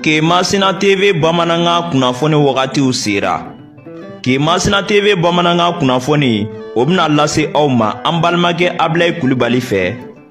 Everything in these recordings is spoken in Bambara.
ke masina tv bamanankan kunnafoni wagatiw sera ke masina tv bamanankan kunnafoni o bɛna lase aw ma an balimakɛ abilayi kulubali fɛ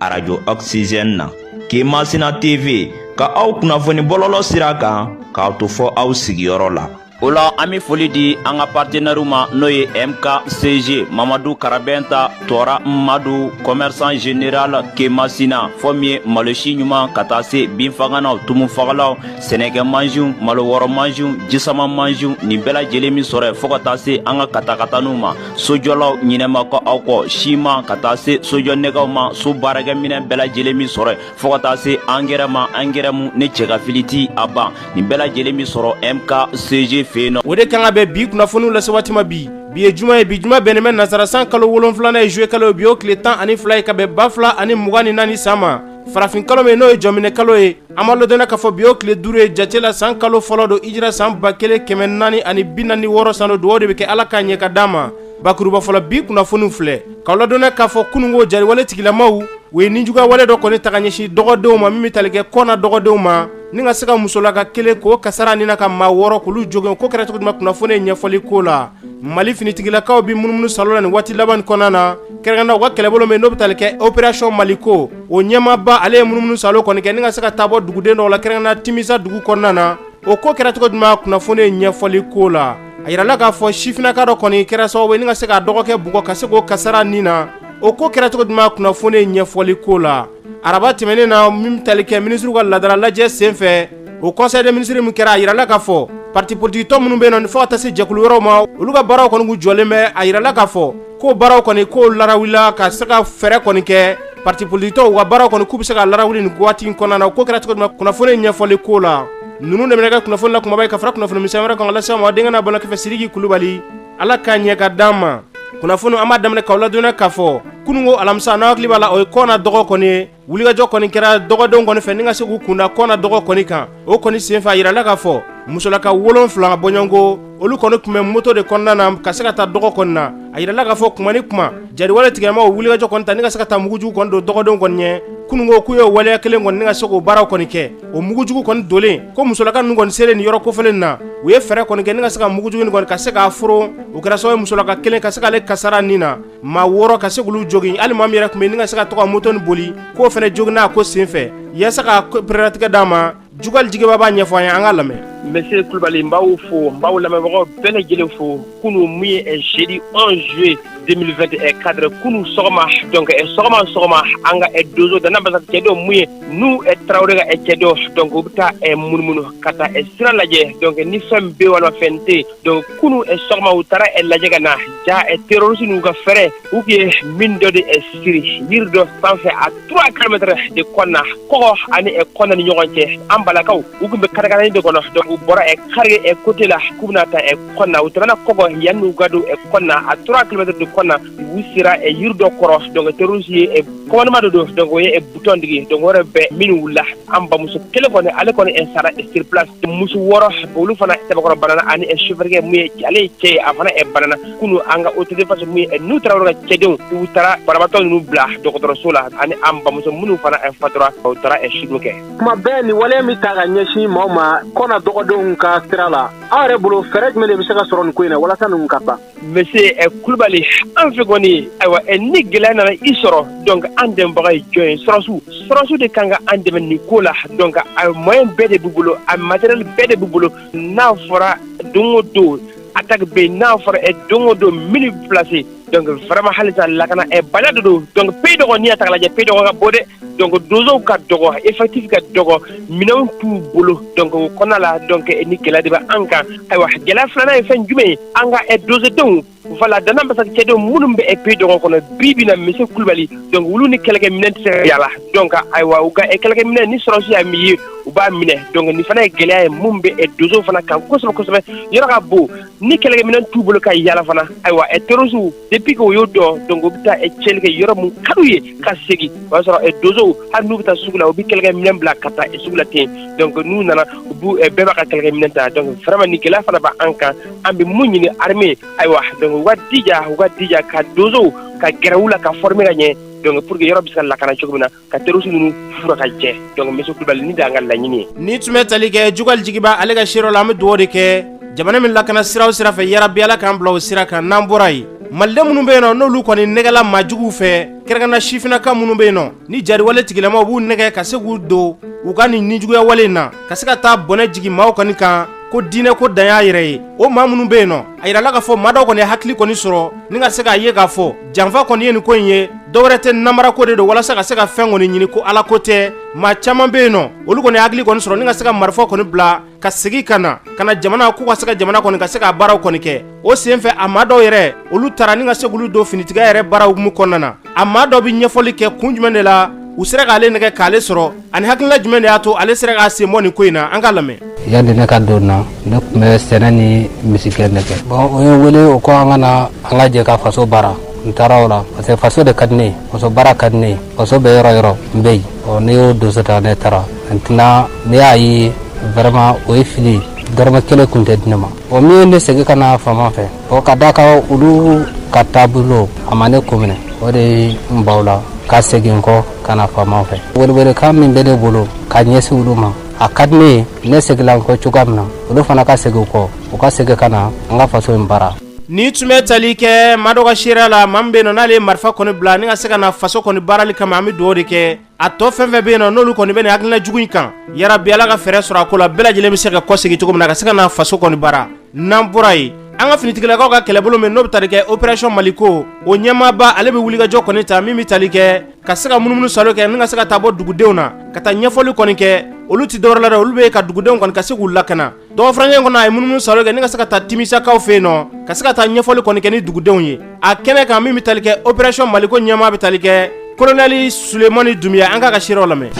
arajo oxygène na ke masina tv ka aw kunnafoni bɔlɔlɔ sira kan k'a to fɔ aw sigiyɔrɔ la o la an be foli di an ka partenɛriw ma n'o ye mkcg mamadu karabɛnta tɔɔra madu kɔmɛrisan general kemasina fɔ min ye malosi ɲuman ka taa se binfaganaw tumufagalaw sɛnɛkɛ mansiw malo wɔrɔ mansiw jisama mansiw nin bɛɛ lajɛlen be sɔrɔ yen fɔɔ ka taa se an ka katakataniw ma sojɔlaw ɲinɛ ma kɛ aw kɔ siman ka taa se sojɔ nɛgɛw ma so baarakɛminɛ bɛɛ lajɛlen be sɔrɔ yen fɔɔ ka taa se angɛrɛ ma angɛrɛ mu ni cɛgafili ti a ban nin bɛɛ lajɛlen be sɔrɔ MKCG fɛ yen nɔ o de kanga bɛ bi kunnafoniw lase waati ma bi bi ye juma ye bi juma bɛnnen bɛ nasara san kalo wolonfilana ye juillet kalo ye bi o tile tan ani fila ye ka bɛn ba fila ani mugan ni naani san ma farafin kalo min n'o ye jɔminɛ kalo ye an b'aw ladɔniya k'a fɔ bi o tile duuru ye jate la san kalo fɔlɔ don hijira san ba kelen kɛmɛ naani ani bi naani wɔɔrɔ san don dugawu de bɛ kɛ ala k'a ɲɛ ka d'an ma bakuruba fɔlɔ bi kunnafoniw filɛ k'aw ladɔniya k'a fɔ kununko jariwale tigilamaw u ye ninjuguya wale dɔ kɔni ta ka ɲɛsin dɔgɔdenw ma min bɛ tali kɛ kɔna dɔgɔdenw ma ni ka se ka musolaka kelen k'o kasara ni na ka maa wɔɔrɔ k'olu jogin o ko kɛra cogo jumɛn kunnafoni ye ɲɛfɔli k'o la mali finitigilakaw bɛ munumunu saalo la nin waati laban in kɔnɔna na kɛrɛnkɛrɛnnenya u ka kɛlɛbolo min n'o bɛ tali kɛ opération maliko o ɲɛmaaba ale ye munumunu saalo kɔni kɛ ni ka se ka taa bɔ duguden dɔw la kɛrɛnkɛrɛnnenya Timisa dugu kɔnɔna na o ko kɛra cogo jumɛn kunnafoni ye ɲɛfɔli k'o la a yirala k'a fɔ sifinnaka dɔ kɔni kɛra sababu ye ni ka se k'a dɔgɔkɛ bugɔ ka se k'o kasara nin na, o ko kɛra cogo jumɛn kunnafoni ye ɲɛfɔli k'o la, araba tɛmɛnen na min bɛ tali kɛ minisiriw ka laadala lajɛ senfɛ, o conseil des ministres min kɛra, a yirala k'a fɔ partis politiques tɔn minnu bɛ yen nɔ fo ka taa se jɛkulu wɛrɛw ma, olu ka baaraw kɔni kun jɔlen bɛ, a yirala k'a fɔ ko baaraw kɔni k'o larawulila ka se ka fɛɛrɛ kɔni kɛ partis politiques tɔn u ka baaraw kɔni k'u bɛ se ka larawuli nin waati in kɔnɔna na o ko kɛra cogo jumɛn kunnafoni ye ɲɛfɔli k'o la ninnu de bɛna kɛ kunnafoni la kumaba ye ka fara kunnafoni misɛn wɛrɛ kan lase aw ma denkɛ n'a balimakɛ fɛ siriki kulubali ala k'a ɲɛ ka d'an ma kunnafoni an b'a daminɛ k'aw ladɔniya k'a fɔ kununko alamisa n'aw hakili b'a la o ye kɔna dɔgɔ kɔni ye wulikajɔ kɔni kɛra dɔgɔdenw kɔni fɛ ni ka se k'u kunda kɔna dɔgɔ kɔni kan o kɔni senfɛ a yirala k'a fɔ musolaka wolonfila bɔɲɔgɔnko olu kɔni tun bɛ moto de kɔnɔna na ka se ka taa dɔgɔ kɔni na a yirala k'a fɔ kuma ni kuma jariwale tigilamaw wulikajɔ kɔni ta ni ka se ka taa mugujugu kɔni don dɔgɔdenw kɔni ɲɛ kununko k'u ye waleya kelen kɔni ni ka se k'o baaraw kɔni kɛ o mugujugu kɔni donlen ko musolaka ninnu kɔni selen nin yɔrɔ kofɔlen na u ye fɛɛrɛ kɔni kɛ ni ka se ka mugujugu nin kɔni ka se k'a foron o kɛra sababu ye musolaka kelen ka se k'ale kasara nin na maa wɔɔrɔ ka se k'olu jogin hali maa min yɛrɛ tun bɛ yen ni ka se ka to ka moto in boli k'o fana joginna a ko senfɛ yasa ka perelatigɛ d'a ma Jukali Jigiba b'a ɲɛfɔ an ye an k'a lamɛn. Monsieur Kulubali n b'aw fo n b'aw lamɛnbagaw bɛɛ lajɛlen fo kunu mun ye eh, jeudi 11 juillet 2024 kunu sɔgɔma donc eh, sɔgɔma sɔgɔma an ka eh, dozo Dana Ambasagu cɛdenw mun ye Nuhu Tarawele ka cɛdenw donc u bɛ taa munumunu ka taa sira lajɛ donc ni fɛn bɛ walima fɛn tɛ yen donc kunun sɔgɔma u taara lajɛ ka na jaa terroriste ninnu ka fɛɛrɛ u tun ye mine dɔ de siri yiri dɔ sanfɛ à trois kilomètres de Kɔna Kɔgɔ ani Kɔna ni ɲɔgɔn cɛ an balakaw u tun bɛ katakatani de kɔnɔ donc u bɔra Kargué côté la k'u bɛna taa Kɔna u tɛmɛna Kɔgɔ yann'u ka don Kɔna à trois kilomètres de Kɔna u sera ɛ yiri dɔ kɔrɔ donc terroriste ye ɛ commandement dɔ don donc o ye ɛ butɔn digi donc o yɔrɔ bɛɛ mine wulila an bamuso kelen kɔni ale kɔni ɛ sara ɛ sur place muso wɔɔrɔ olu fana sɛbɛkɔrɔ banana ani ɛ chauffeur mun ye ale ye cɛ ye a fana ɛ banana kunu an ka autodéfense mun ye ɛ Nuhu Tarawele ka cɛdenw u taara banabaatɔ ninnu bila dɔgɔtɔrɔso la ani an bamuso minnu fana ɛ fatura u taara ɛ sudon kɛ kuma bɛɛ nin waleya min ta ka ɲɛsin maaw ma Kɔna dɔgɔdenw ka sira la aw yɛrɛ bolo fɛɛrɛ jumɛn de bɛ se ka sɔrɔ nin ko in na walasa ninnu ka ban Monsieur ɛ Kulubali an fɛ kɔni ayiwa ɛ ni gɛlɛya nana i sɔrɔ donc an dɛmɛbaga ye jɔn ye sɔrɔsiw sɔrɔsiw de kan ka an dɛmɛ nin ko la donc a moyen bɛɛ de b'u bolo a matériel bɛɛ de b'u bolo n'a fɔra don o don attaque bɛ yen n'a fɔra ɛ don o don mine bɛ placer donc vraiment halisa lakana ɛ bana de don donc pays Dogon n'i y'a ta k'a lajɛ pays Dogon ka bon dɛ donc donsow ka dɔgɔ effectif ka dɔgɔ minɛnw t'u bolo donc o kɔnɔna la donc nin gɛlɛya de bɛ an kan ayiwa gɛlɛya filanan ye fɛn jumɛn ye an ka eh, donsodenw voilà Dana Ambasagu cɛdenw minnu bɛ eh, pays Dogon kɔnɔ bi bi na monsieur Kulubali donc olu ni kɛlɛkɛ minɛn tɛ se ka yala donc ayiwa u ka eh, kɛlɛkɛ minɛn ni sɔrɔsi y'a min ye u b'a minɛ donc nin fana ye gɛlɛya ye mun bɛ donsow fana kan kosɛbɛ kosɛbɛ yɔrɔ ka bon ni kɛlɛkɛminɛ t'u bolo ka yala fana ayiwa ɛ terroristew depuis que u y'o dɔn donc u bɛ taa cɛli kɛ yɔrɔ min ka d'u ye ka segin o y'a sɔrɔ donsow hali n'u bɛ taa sugu la u bɛ kɛlɛkɛminɛ bila ka taa sugu la ten donc n'u nana u bɛɛ b'a ka kɛlɛkɛminɛ ta donc vraiment nin gɛlɛya fana b' an kan an bɛ mun ɲini armée ayiwa donc u ka jija u ka jija ka donsow ka gɛrɛ u la ka former ka ɲɛ donc pour que yɔrɔ bɛ se ka lakana cogo min na ka terroriste ninnu furan ka jɛ donc monsieur Kulibali nin de y'an ka laɲini ye, nin tun bɛ tali kɛ Jukali Jigiba ale ka sira la an bɛ dugawu de kɛ jamana min lakana sira o sira fɛ yarabi Ala k'an bila o sira kan n'an bɔra yen maliden minnu bɛ yen nɔ n'olu kɔni nɛgɛla maa juguw fɛ kɛrɛnkɛrɛnna sifinnaka minnu bɛ yen nɔ ni jariwale tigilamaw b'u nɛgɛ ka se k'u don u ka nin nijuguya wale in na ka se ka taa bɔnɛ jigin maaw kɔni kan ko diinɛ ko dan y'a yɛrɛ ye o maa minnu bɛ yen nɔ a yirala k'a fɔ maa dɔw kɔni ye hakili kɔni sɔrɔ ni ka se k'a ye k'a fɔ janfa kɔni ye nin ko in ye dɔwɛrɛ tɛ namara ko de don walasa ka se ka fɛn kɔni ɲini ko ala ko tɛ maa caman bɛ yen nɔ olu kɔni ye hakili kɔni sɔrɔ ni ka se ka marifa kɔni bila ka segi ka na ka na jamana k'u ka se ka jamana kɔni ka se k'a baaraw kɔni kɛ o senfɛ a maa dɔw yɛrɛ olu tara ni ka se k'olu don finitigiya yɛrɛ baaraw hukumu kɔnɔna na a maa dɔ bɛ ɲɛfɔli kɛ kun jumɛn de la u sera k'ale nɛgɛ k'ale sɔrɔ ani hakilina jumɛn de y'a to ale sera k'a sen bɔ nin ko in na an k'a lamɛn yanni ne ka don na ne tun bɛ sɛnɛ ni misigɛn de kɛ bon o ye wele o ko an ka na an ka jɛ ka faso baara n taara o la parce que faso de ka di ne ye faso baara ka di ne ye faso bɛ yɔrɔ yɔrɔ n bɛ yen ɔ ne y'o dusu ta ne taara maintenant ne y'a ye vraiment o ye fili ye dɔrɔmɛ kelen tun tɛ di ne ma o min ye ne segin ka na faama fɛ bon k'a da kan olu ka taabolo a ma ne ko minɛ o de ye n bɔ u la ka segin kɔ ka na faama fɛ welewelekan min bɛ ne bolo ka ɲɛsin olu ma a ka di ne ye ne seginla n kɔ cogoya min na olu fana ka segin kɔ u ka segin ka na an ka faso in baara nin tun bɛ tali kɛ maa dɔ ka seereya la maa min bɛ yen nɔ n'ale ye marifa kɔni bila ni ka se ka na faso kɔni baarali kama an bɛ dugawu de kɛ a tɔ fɛn fɛn bɛ yen nɔ n'olu kɔni bɛ nin hakilina jugu in kan yarabi ala ka fɛɛrɛ sɔrɔ a ko la bɛɛ lajɛlen bɛ se ka kɔsegin cogo min na ka se ka na faso kɔni baara n'an bɔra yen an ka finitigilakaw ka kɛlɛbolo min n'o bɛ tali kɛ operation maliko o ɲɛmaaba ale bɛ wulikajɔ kɔni ta min bɛ tali kɛ ka se ka munumunu salo kɛ ni ka se ka taa bɔ dugudenw na ka taa ɲɛfɔli kɔni kɛ olu tɛ dɔwɛrɛ la dɛ olu bɛ ka dugudenw kɔni ka se k'u lakana Dɔgɔfakɛ kɔnɔ a ye munumunu salo kɛ ni ka se ka taa timisakaw fɛ yen nɔ ka se ka taa ɲɛfɔli kɔni kɛ ni dugudenw ye a kɛnɛ kan min bɛ tali kɛ operation Maliko ɲɛmaa bɛ tali kɛ colonel Sulemani Dunbiya an k'a ka seerew lamɛn.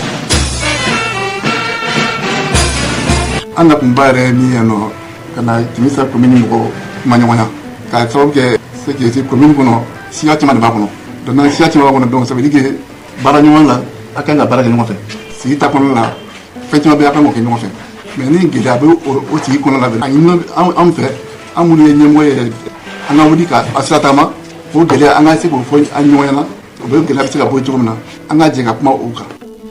An na kun ba yɛrɛ ye min ye yan nɔ ka na Timisa commune mɔgɔw kumaɲɔgɔnya k'a sababu kɛ c'est que commune kɔnɔ siya caman de b'a kɔnɔ donc n'an siya caman b'a kɔnɔ donc ça veut dire que baara ɲɔgɔn la a ka kan ka baara kɛ ɲɔgɔn fɛ sigida kɔnɔna la fɛn caman bɛ yen a ka kan k'o kɛ ɲɔgɔn fɛ. mais ni gɛlɛya bɛ o sigi kɔnɔ la a ɲini anw fɛ an minnu ye ɲɛmɔgɔ ye an ka wuli ka a sira taama o gɛlɛya an ka se k'o fɔ an ɲɔgɔn ɲɛna o bɛ gɛlɛya bɛ se ka bɔ cogo min na an ka jɛ ka kuma o kan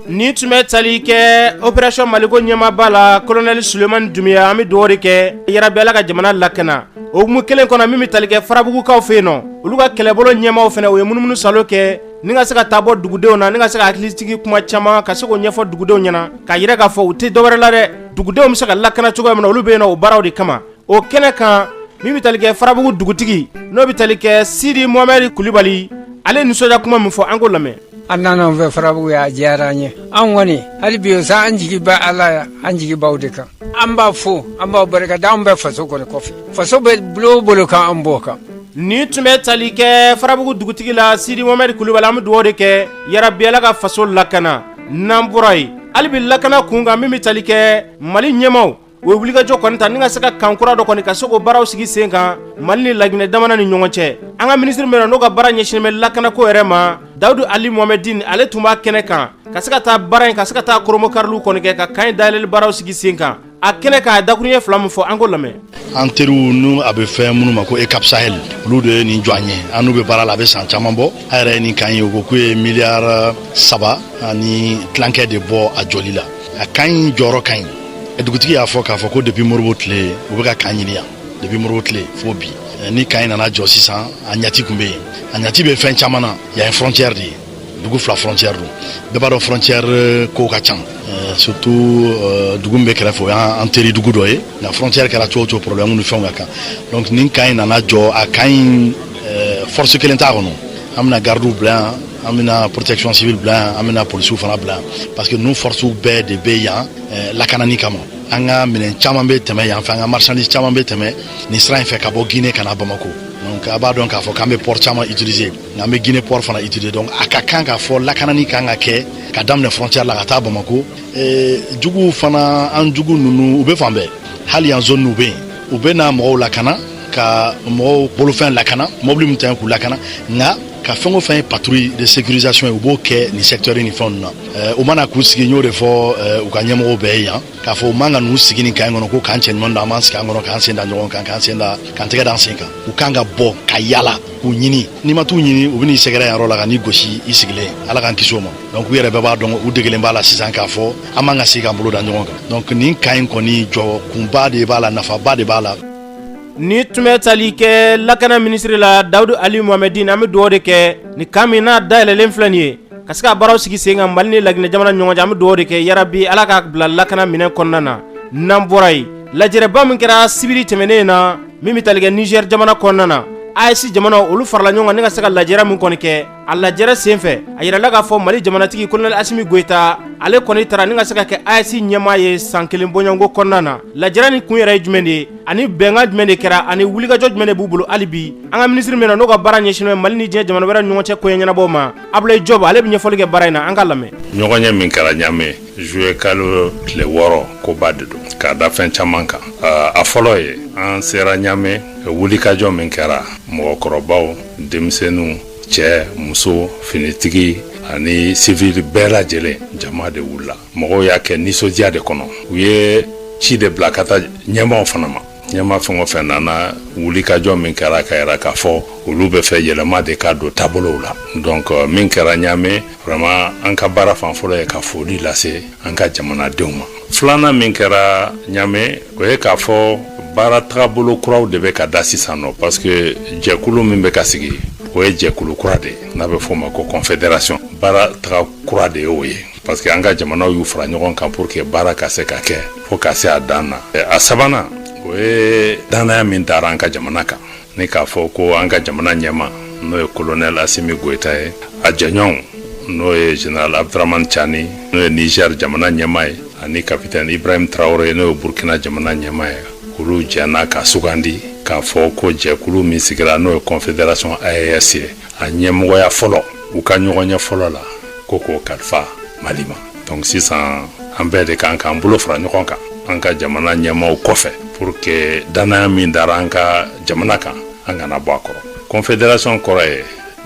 nin tun bɛ tali kɛ operasɔn maliko ɲɛmaba la kolonɛli sulemani dunbiya an bɛ dugawu de kɛ yarabi ala ka jamana lakana o hukumu kelen kɔnɔ min bɛ tali kɛ farabugukaw fɛ yen nɔ olu ka kɛlɛbolo ɲɛmaaw fana u ye munumunu salo kɛ Ni ka se ka taa bɔ dugudenw na ni ka se ka hakilitigi kuma caman ka se k'o ɲɛfɔ dugudenw ɲɛna k'a yira k'a fɔ u tɛ dɔwɛrɛ la dɛ dugudenw bɛ se ka lakana cogoya min na olu bɛ yen na o baaraw de kama o kɛnɛ kan min bɛ tali kɛ farabugu dugutigi n'o bɛ tali kɛ sidi mohamɛdi kulibali ale nisɔndiya kuma min fɔ an k'o lamɛn aw nana an fɛ farabugu yan a diyara an ye an kɔni hali bi sa an jigi bɛ ala yan an jigi b'aw de kan an b'a fo an b'aw barika da an bɛ faso kɔni kɔfɛ faso bɛ bolo o bolo kan an b'o kan Nin tun bɛ tali kɛ farabugu dugutigi la sidi mohamɛdi kulibali an bɛ dugawu de kɛ yarabi ala ka faso lakana n'an bɔra yen hali bi lakana kun kan min bɛ tali kɛ mali ɲɛmaaw u ye wulikajɔ kɔni ta ni ka se ka kan kura dɔ kɔni ka se k'o baaraw sigi sen kan mali ni laginɛ jamana ni ɲɔgɔn cɛ an ka minisiri min na n'o ka baara ɲɛsinnen bɛ lakanako yɛrɛ ma dawudu ali mohamɛdin ale tun b'a kɛnɛ kan ka se ka taa baara in ka se ka taa kurubonkariliw kɔni kɛ ka kan in dayɛlɛli baaraw sigi sen kan a kɛnɛ kan a dakuruɲɛ fila min fɔ an k'o lamɛn an teriw n'u a bɛ fɔ minnu ma ko eucap sahel olu de ye nin jɔ an ye an n'u bɛ baara la a bɛ san caman bɔ a yɛrɛ ye nin kan ye u ko k'u ye miliyari saba ani tilankɛ de bɔ a jɔli la a kan in jɔyɔrɔ ka ɲi dugutigi y'a fɔ k'a fɔ ko depuis modibo tile u bɛ ka kan ɲini yan depuis modibo tile fo bi ni kan in nana jɔ sisan a ɲati tun bɛ yen a ɲati bɛ fɛn caman na yan ye frontière de ye dugu fila frontière don bɛɛ b'a dɔn frontière euh, ko ka ca euh, surtout euh, dugu min bɛ kɛrɛfɛ o y'an teri dugu dɔ ye nka frontière kɛra cogo o cogo problème ni fɛnw ka kan donc nin kan in nana jɔ a kan in force kelen t'a kɔnɔ an bɛna gardiw bila yan an bɛna protection civile bila yan an bɛna polisiw fana bila yan parce que ninnu forcew bɛɛ de bɛ yan lakanani kama an ka minɛn caman bɛ tɛmɛ yan fɛ an ka marchandise caman bɛ tɛmɛ nin sira in fɛ ka bɔ guinée ka na bamako donc a b'a dɔn k'a fɔ k'an bɛ port caman utiliser nka an bɛ guinée pɔri fana utiliser donc a ka kan k'a fɔ lakanani ka kan ka kɛ ka daminɛ frontière la ka taa bamakɔ eh, juguw fana an jugu ninnu u bɛ fan bɛɛ hali yan zone u bɛ yen u bɛ na mɔgɔw lakana ka mɔgɔw bolofɛn lakana mɔbili min ta k'u lakana nka ka fɛn o fɛn ye patrouille de sécurisation ye u b'o kɛ nin secteur ni fɛnw na eh, u man kan k'u sigi n y'o de fɔ eh, u ka ɲɛmɔgɔw bɛɛ ye yan k'a fɔ u man ka n'u sigi nin kan kɔnɔ ko kan cɛɲumanin don an b'an sigi a kɔnɔ k'an sen da ɲɔgɔn kan k'an sen da k'an tɛgɛ d'an sen kan u kan ka bɔ ka yala k'u ɲini n'i ma t'u ɲini u bɛn'i sɛgɛrɛ yɔrɔ la ka n'i gosi i sigilen ala k'an kisi o ma donc u yɛrɛ bɛɛ b'a dɔn u degelen b'a la sisan k'a fɔ an man ka sigi k'an bolo da ɲɔgɔn kan donc nin kan in kɔni jɔ kunba de b'a la nafaba de b'a la nin tun bɛ tali kɛ lakana minisiri la dawudu ali mohamɛdin an bɛ dugawu de kɛ ni kan min n'a dayɛlɛlen filɛ nin ye ka se ka baaraw sigi sen kan Mali ni laginɛ jamana ni ɲɔgɔn cɛ an bɛ dugawu de kɛ yarabi Ala ka bila lakana minɛn kɔnɔna na n'an bɔra yen lajɛrɛba min kɛra sibiri tɛmɛnen in na min bɛ tali kɛ Niger jamana kɔnɔna na AES jamanaw olu farala ɲɔgɔn kan ni ka se ka lajɛrɛ min kɔni kɛ a lajɛrɛ senfɛ a yirala k'a fɔ Mali jamanatigi colonel Asimi Goyita ale kɔni tara ni ka se ka kɛ AES ɲɛmaa ye san kelen bɔɲɔgɔnko kɔnɔna na lajɛrɛ nin kun yɛrɛ ye jumɛn de ye ani bɛnkan jumɛn de kɛra ani wulikajɔ jumɛn de b'u bolo hali bi an ka minisiri min na n'o ka baara ɲɛsinnen bɛ Mali ni diɲɛ jamana wɛrɛw ni ɲɔgɔn cɛ koɲɛ ɲɛnabɔw ma Abulayi Jɔbu ale bɛ ɲɛfɔli kɛ baara in na an k'a lamɛn. Ɲɔgɔnye min kɛra Ɲame juillet kalo tile wɔɔrɔ koba de don k'a da fɛn caman kan a fɔlɔ ye an sera Ɲame wulikajɔ min kɛra mɔgɔkɔrɔbaw denmisɛnninw cɛ muso finitigi ani civil bɛɛ lajɛlen jama de wulila mɔgɔw y'a kɛ nisɔndiya de kɔnɔ u ye ci de bila ka taa ɲɛmaw fana ma ɲɛma fɛn o fɛn nana wulikajɔ min kɛra k'a yira k'a fɔ olu bɛ fɛ yɛlɛma de ka don taabolow la donc euh, min kɛra ɲaame vraiment an ka baara fan fɔlɔ ye ka foli lase an ka jamanadenw ma filanan min kɛra ɲaame o ye k'a fɔ baara tagabolo kuraw de bɛ ka da sisan nɔ parce que jɛkulu min bɛ ka sigi o ye jɛkulu kura de ye n'a bɛ fɔ o ma ko confederation baara taga kura de y'o ye parce que an ka jamanaw y'u fara ɲɔgɔn kan pour que baara ka se ka kɛ fo ka se a dan na a sabanan o ye dannaya min dara an ka jamana kan ni k'a fɔ ko an ka jamana ɲɛma n'o ye kolonɛl asimi goyita ye a jɛɲɔgɔnw n'o ye general abduraman cani n'o ye niger jamana ɲɛma ye ani kapitɛn ibrahim tarawore n'o ye burkina jamana ɲɛma ye olu jɛnna ka sugandi k'a fɔ ko jɛkulu min sigira n'o ye confederation aes ye a ɲɛmɔgɔya fɔlɔ u ka ɲɔgɔnye fɔlɔ la ko k'o kalifa mali ma donc sisan an bɛɛ de kan k'an bolo fara ɲɔgɔn kan an ka jamana ɲɛmaaw kɔfɛ pour que dannaya min dara an ka jamana kan an kana bɔ a kɔrɔ confederation kɔrɔ ye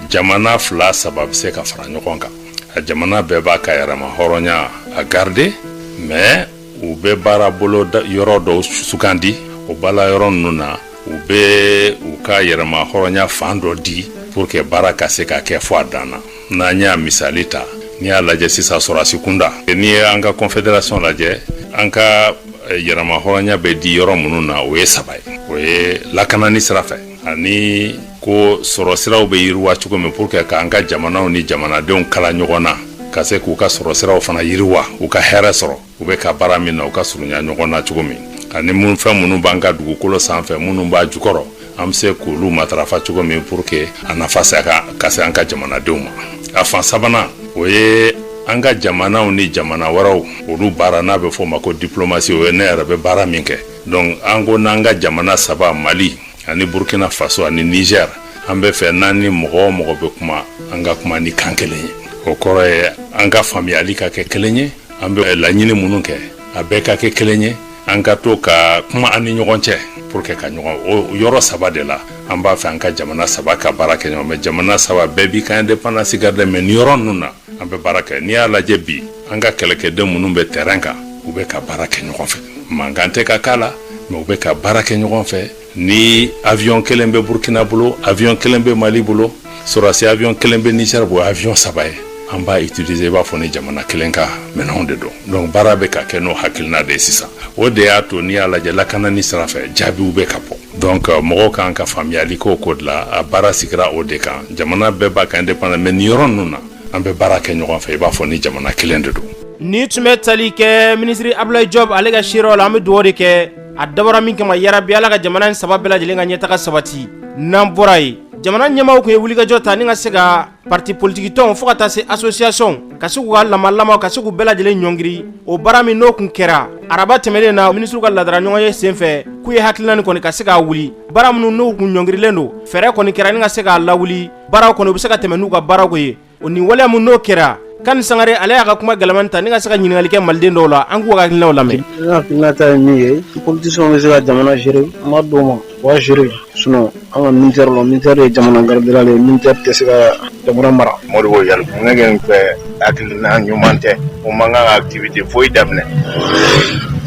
jamana fila saba bɛ se ka fara ɲɔgɔn kan a jamana bɛɛ b'a ka yɛrɛmahɔrɔnya a garder mais u bɛ baara bolo yɔrɔ dɔw sugandi o baara yɔrɔ ninnu na u bɛ u ka yɛrɛmahɔrɔnya fan dɔ di pour que baara ka se ka kɛ fo a dan na n'an y'a misali ta n'i y'a lajɛ sisan sɔrɔdasi kunda n'i ye an ka confederation lajɛ an ka eh, yɛrɛmahɔrɔnya bɛ di yɔrɔ minnu na o ye saba ye o ye lakanani sira fɛ ani ko sɔrɔ siraw bɛ yiriwa cogo min pour que k'an ka jamanaw ni jamanadenw kala ɲɔgɔn na ka se k'u ka sɔrɔ siraw fana yiriwa u ka hɛrɛ sɔrɔ u bɛ ka baara min na u ka surunya ɲɔgɔn na cogo min ani minnu fɛn minnu b'an ka dugukolo sanfɛ minnu b'a jukɔrɔ an bɛ se k'olu matarafa cogo min pour que a nafa se ka se an ka jamanadenw ma a fan sabanan o ye an ka jamanaw ni jamana wɛrɛw olu baara n'a bɛ fɔ o ma ko diplomasi o ye ne yɛrɛ bɛ baara min kɛ donc an ko n'an ka jamana saba mali ani burkina faso ani niger an bɛ fɛ n'an ni mɔgɔ o mɔgɔ bɛ kuma an ka kuma ni kan kelen ye o kɔrɔ ye an ka faamuyali ka kɛ kelen ye an bɛ laɲini minnu kɛ a bɛɛ ka kɛ kelen ye an ka to ka kuma an ni ɲɔgɔn cɛ pour que ka ɲɔgɔn o yɔrɔ saba de la an b'a fɛ an ka jamana saba ka baara kɛ ɲɔgɔn fɛ jamana saba bɛɛ b'i ka indépendance garder mais nin yɔrɔ ninnu na an bɛ baara kɛ n'i y'a lajɛ bi an ka kɛlɛkɛden minnu bɛ terrain kan u bɛ ka baara kɛ ɲɔgɔn fɛ mankan tɛ ka k'a la mais u bɛ ka baara kɛ ɲɔgɔn fɛ Ni avion kelen bɛ Burkina bolo, avion kelen bɛ Mali bolo, sɔrɔdasi avion kelen bɛ Niger bolo, o ye avion saba ye. An b'a utiliser i b'a fɔ ni jamana kelen ka minɛnw de don. Donc baara bɛ ka kɛ n'o hakilina de ye sisan. O de y'a to n'i y'a lajɛ lakanani sira fɛ jaabiw bɛ ka bɔ. Donc mɔgɔw ka kan ka faamuyali k'o ko de la, a baara sigira o de kan. Jamana bɛɛ b'a ka indépendance mais nin yɔrɔ ninnu na, an bɛ baara kɛ ɲɔgɔn fɛ i b'a fɔ ni jamana kelen de don. Nin tun bɛ tali kɛ minisiri Abulayi Jɔpu ale ka seerew la, an bɛ dugawu de kɛ a dabɔra min kama yarabi ala ka jamana in saba bɛɛ lajɛlen ka ɲɛtaga sabati n'an bɔra yen jamana ɲɛmaaw tun ye wulikajɔ ta ni ka se ka parti politikitɔnw fo ka taa se asosiyasɔnw ka se k'u ka lamalamaw ka se k'u bɛɛ lajɛlen ɲɔngiri o baara min n'o tun kɛra araba tɛmɛnen na minisiriw ka laadala ɲɔgɔnye sen fɛ k'u ye hakilina nin kɔni ka se k'a wuli baara minnu n'u tun ɲɔngirilen don fɛɛrɛ kɔni kɛra ni ka se k'a lawuli baaraw kɔni u bɛ se ka tɛmɛ n'u ka baarako ye O nin waleya min n'o kɛra Kani Sangare ale y'a ka kuma kalaman ta ni ka se ka ɲininkali kɛ maliden dɔw la an k'u ka hakilinaw lamɛn hakilina ta ye min ye politiciens bɛ se ka jamana gérer ma d'u ma waa gérer sinon an ka militaire la militaire ye jamana gardien ye militaire tɛ se ka jamana mara Modibo Yalkuye ne fɛ hakilina ɲuman tɛ u man kan ka activité foyi daminɛ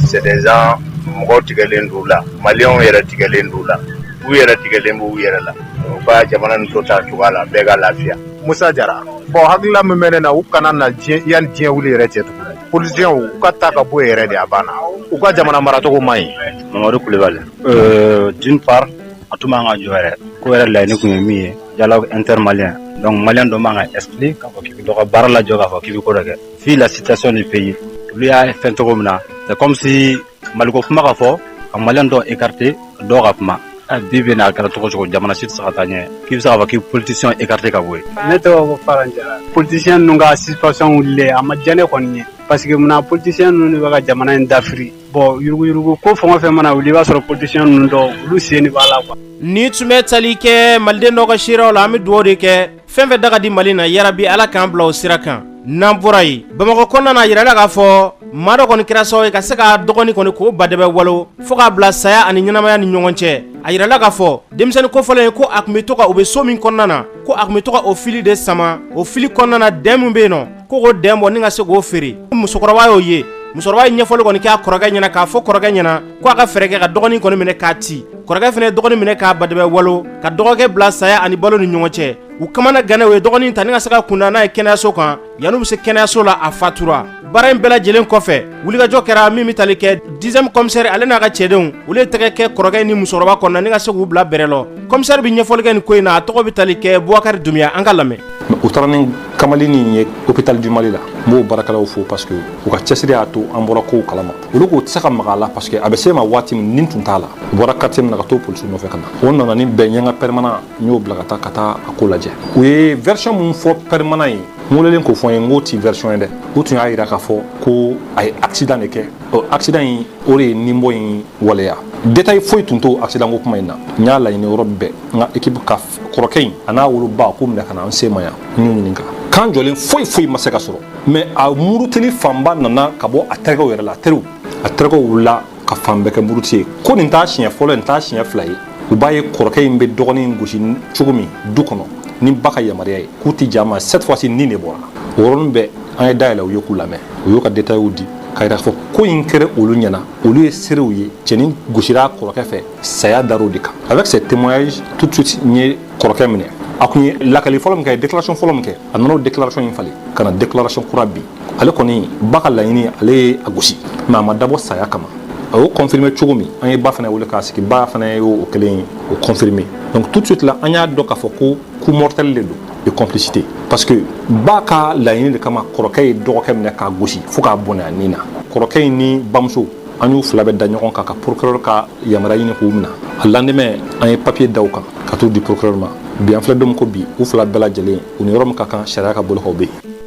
c'est mɔgɔw tigɛlen d'u la maliyɛnw yɛrɛ tigɛlen d'u la u yɛrɛ tigɛlen b'u yɛrɛ la u ka jamana nin to ta cogoya la bɛɛ ka lafiya Musa Jara bon hakilila min bɛ ne na u kana na diɲɛ yani diɲɛ wuli yɛrɛ cɛ tugun politiciens u ka ta ka bɔ yen yɛrɛ de a banna u ka jamana maracogo man ɲi Mamadu Kulibali euh, d'une part a tun man ka jɔ yɛrɛ ko yɛrɛ laɲini tun ye min ye dialogue intermalien donc malien dɔ man ka exclu k'a fɔ k'i bɛ dɔ ka baara lajɔ k'a fɔ k'i bɛ ko dɔ kɛ vu la situation du pays olu y'a fɛn cogo min na c'est comme si maliko kuma ka fɔ ka maliyɛn dɔ écarter dɔw ka kuma bi bɛ n'a kɛra cogo o cogo jamana si tɛ se ka taa ɲɛ k'i bɛ se k'a fɔ k'i politisiyɛn écarter ka bɔ yen ne tɔgɔ ko faran jara politisiyɛn ninnu ka suspension wulilen a ma diya ne kɔni ye parce que munna politisiyɛn ninnu de bɛ ka jamana in dafiri bon yuruguyurugu ko fɛn o fɛn mana wuli i b'a sɔrɔ politisiyɛn ninnu dɔw olu sen de b'a la quoi nin tun bɛ tali kɛ maliden dɔ ka seerew la an bɛ dugawu de kɛ fɛn o fɛn da ka di mali na yarabi ala k'an bila o sira kan n'an bɔra yen bamakɔ kɔnɔna na a yirala k'a fɔ maa dɔ kɔni kɛra sababu ye ka se k'a dɔgɔnin kɔni k'o badɛbɛ walo fo k'a bila saya ani ɲɛnamaya ni ɲɔgɔn cɛ a yirala k'a fɔ denmisɛnnin kofɔlen ye ko a tun bɛ to ka u bɛ so min kɔnɔna na ko a tun bɛ to ka o fili de sama o fili kɔnɔna na den min bɛ yen nɔ Ko k'o den bɔ ni ka se k'o feere musokɔrɔba y'o ye musokɔrɔba ye ɲɛfɔli kɔni k'a kɔrɔkɛ ɲɛna k'a fɔ kɔrɔkɛ ɲɛna ko a ka fɛɛrɛ kɛ ka dɔgɔnin kɔni minɛ k'a ci kɔrɔkɛ fana ye dɔgɔnin minɛ k'a badɛbɛ walo ka dɔgɔkɛ bila saya ani balo ni ɲɔgɔn cɛ u kamanagannen u ye dɔgɔnin ta ni ka se ka kunda n'a ye kɛnɛyaso kan yan'u bɛ se kɛnɛyaso la a fatura baara in bɛɛ lajɛlen kɔfɛ wulikajɔ kɛra min bɛ tali kɛ dixième commissaire ale n'a ka cɛdenw olu ye tɛgɛ kɛ kɔrɔkɛ ni musokɔrɔba kɔnɔna ni ka se k'u bila bɛrɛ lɔ commissaire bɛ ɲɛfɔli kɛ nin ko in na a tɔgɔ bɛ tali kɛ Bubakari Dunbiya an k'a lamɛn u taara ni kamalennin ye hôpital du Mali la n b'o baarakɛlaw fo parce que u ka cɛsiri y'a to an bɔra kow kalama olu k'u tɛ se ka maga a la parce que a bɛ se ma waati min nin tun t'a la u bɔra quartier min na ka t'o polisiw nɔfɛ ka na o nana ni bɛn ni n ka permanent n y'o bila ka taa ka taa a ko lajɛ u ye version min fɔ permanent ye n welelen k'o fɔ n ye n k'o ti version ye dɛ u tun y'a jira k'a fɔ ko a ye accident de kɛ ɔ accident in o de ye nin bɔ in waleya détail foyi tun t'o accident ko kuma in na n y'a laɲini yɔrɔ bɛɛ n ka équipe ka kɔrɔkɛ in a n'a woloba k'u minɛ ka na an se ma yan n y'u ɲininka kan jɔlen foyi foyi ma se ka sɔrɔ mais a murutili fanba nana ka bɔ a terikɛw yɛrɛ la a teriw a terikɛw wulila ka fan bɛɛ kɛ muruti ye ko nin t'a siɲɛ fɔlɔ nin t'a siɲɛ fila ye u b'a ye kɔrɔkɛ in bɛ dɔgɔnin in gosi cogo min du kɔnɔ ni ba ka yamaruya ye k'u tɛ jɛn mais cette fois ci nin de bɔra o yɔrɔnin bɛɛ an ye da yɛlɛ u ye k'u lamɛn u y'u ka détails di k'a yira k'a fɔ ko in kɛra olu ɲɛna olu ye seerew ye cɛnin gosira kɔrɔkɛ fɛ saya dar'o de kan avec ces témoignages tout de suite n ye kɔrɔkɛ minɛ a kun ye lakali fɔlɔ min kɛ déclaration fɔlɔ min kɛ a nana o déclaration in falen ka na déclaration kura bi ale kɔni ba ka laɲini ale ye a gosi mais a ma dabɔ saya kama a y'o confirmer cogo min an ye ba fana wele k'a sigi ba fana ye o kelen o confirmer donc tout de suite la an y'a dɔn k'a fɔ ko coup mortel de don et complicité parce que ba ka laɲini de kama kɔrɔkɛ ye dɔgɔkɛ minɛ k'a gosi fo k'a bɔnɛ a ni na kɔrɔkɛ in ni bamuso an y'u fila bɛɛ da ɲɔgɔn kan ka procureur ka yamaruya ɲini k'u minɛ a lendemain an ye papier da u kan ka t'u di procureur ma bi an filɛ don min ko bi u fila bɛɛ lajɛlen u ni yɔrɔ min ka kan sariya ka bolo kan u bɛ yen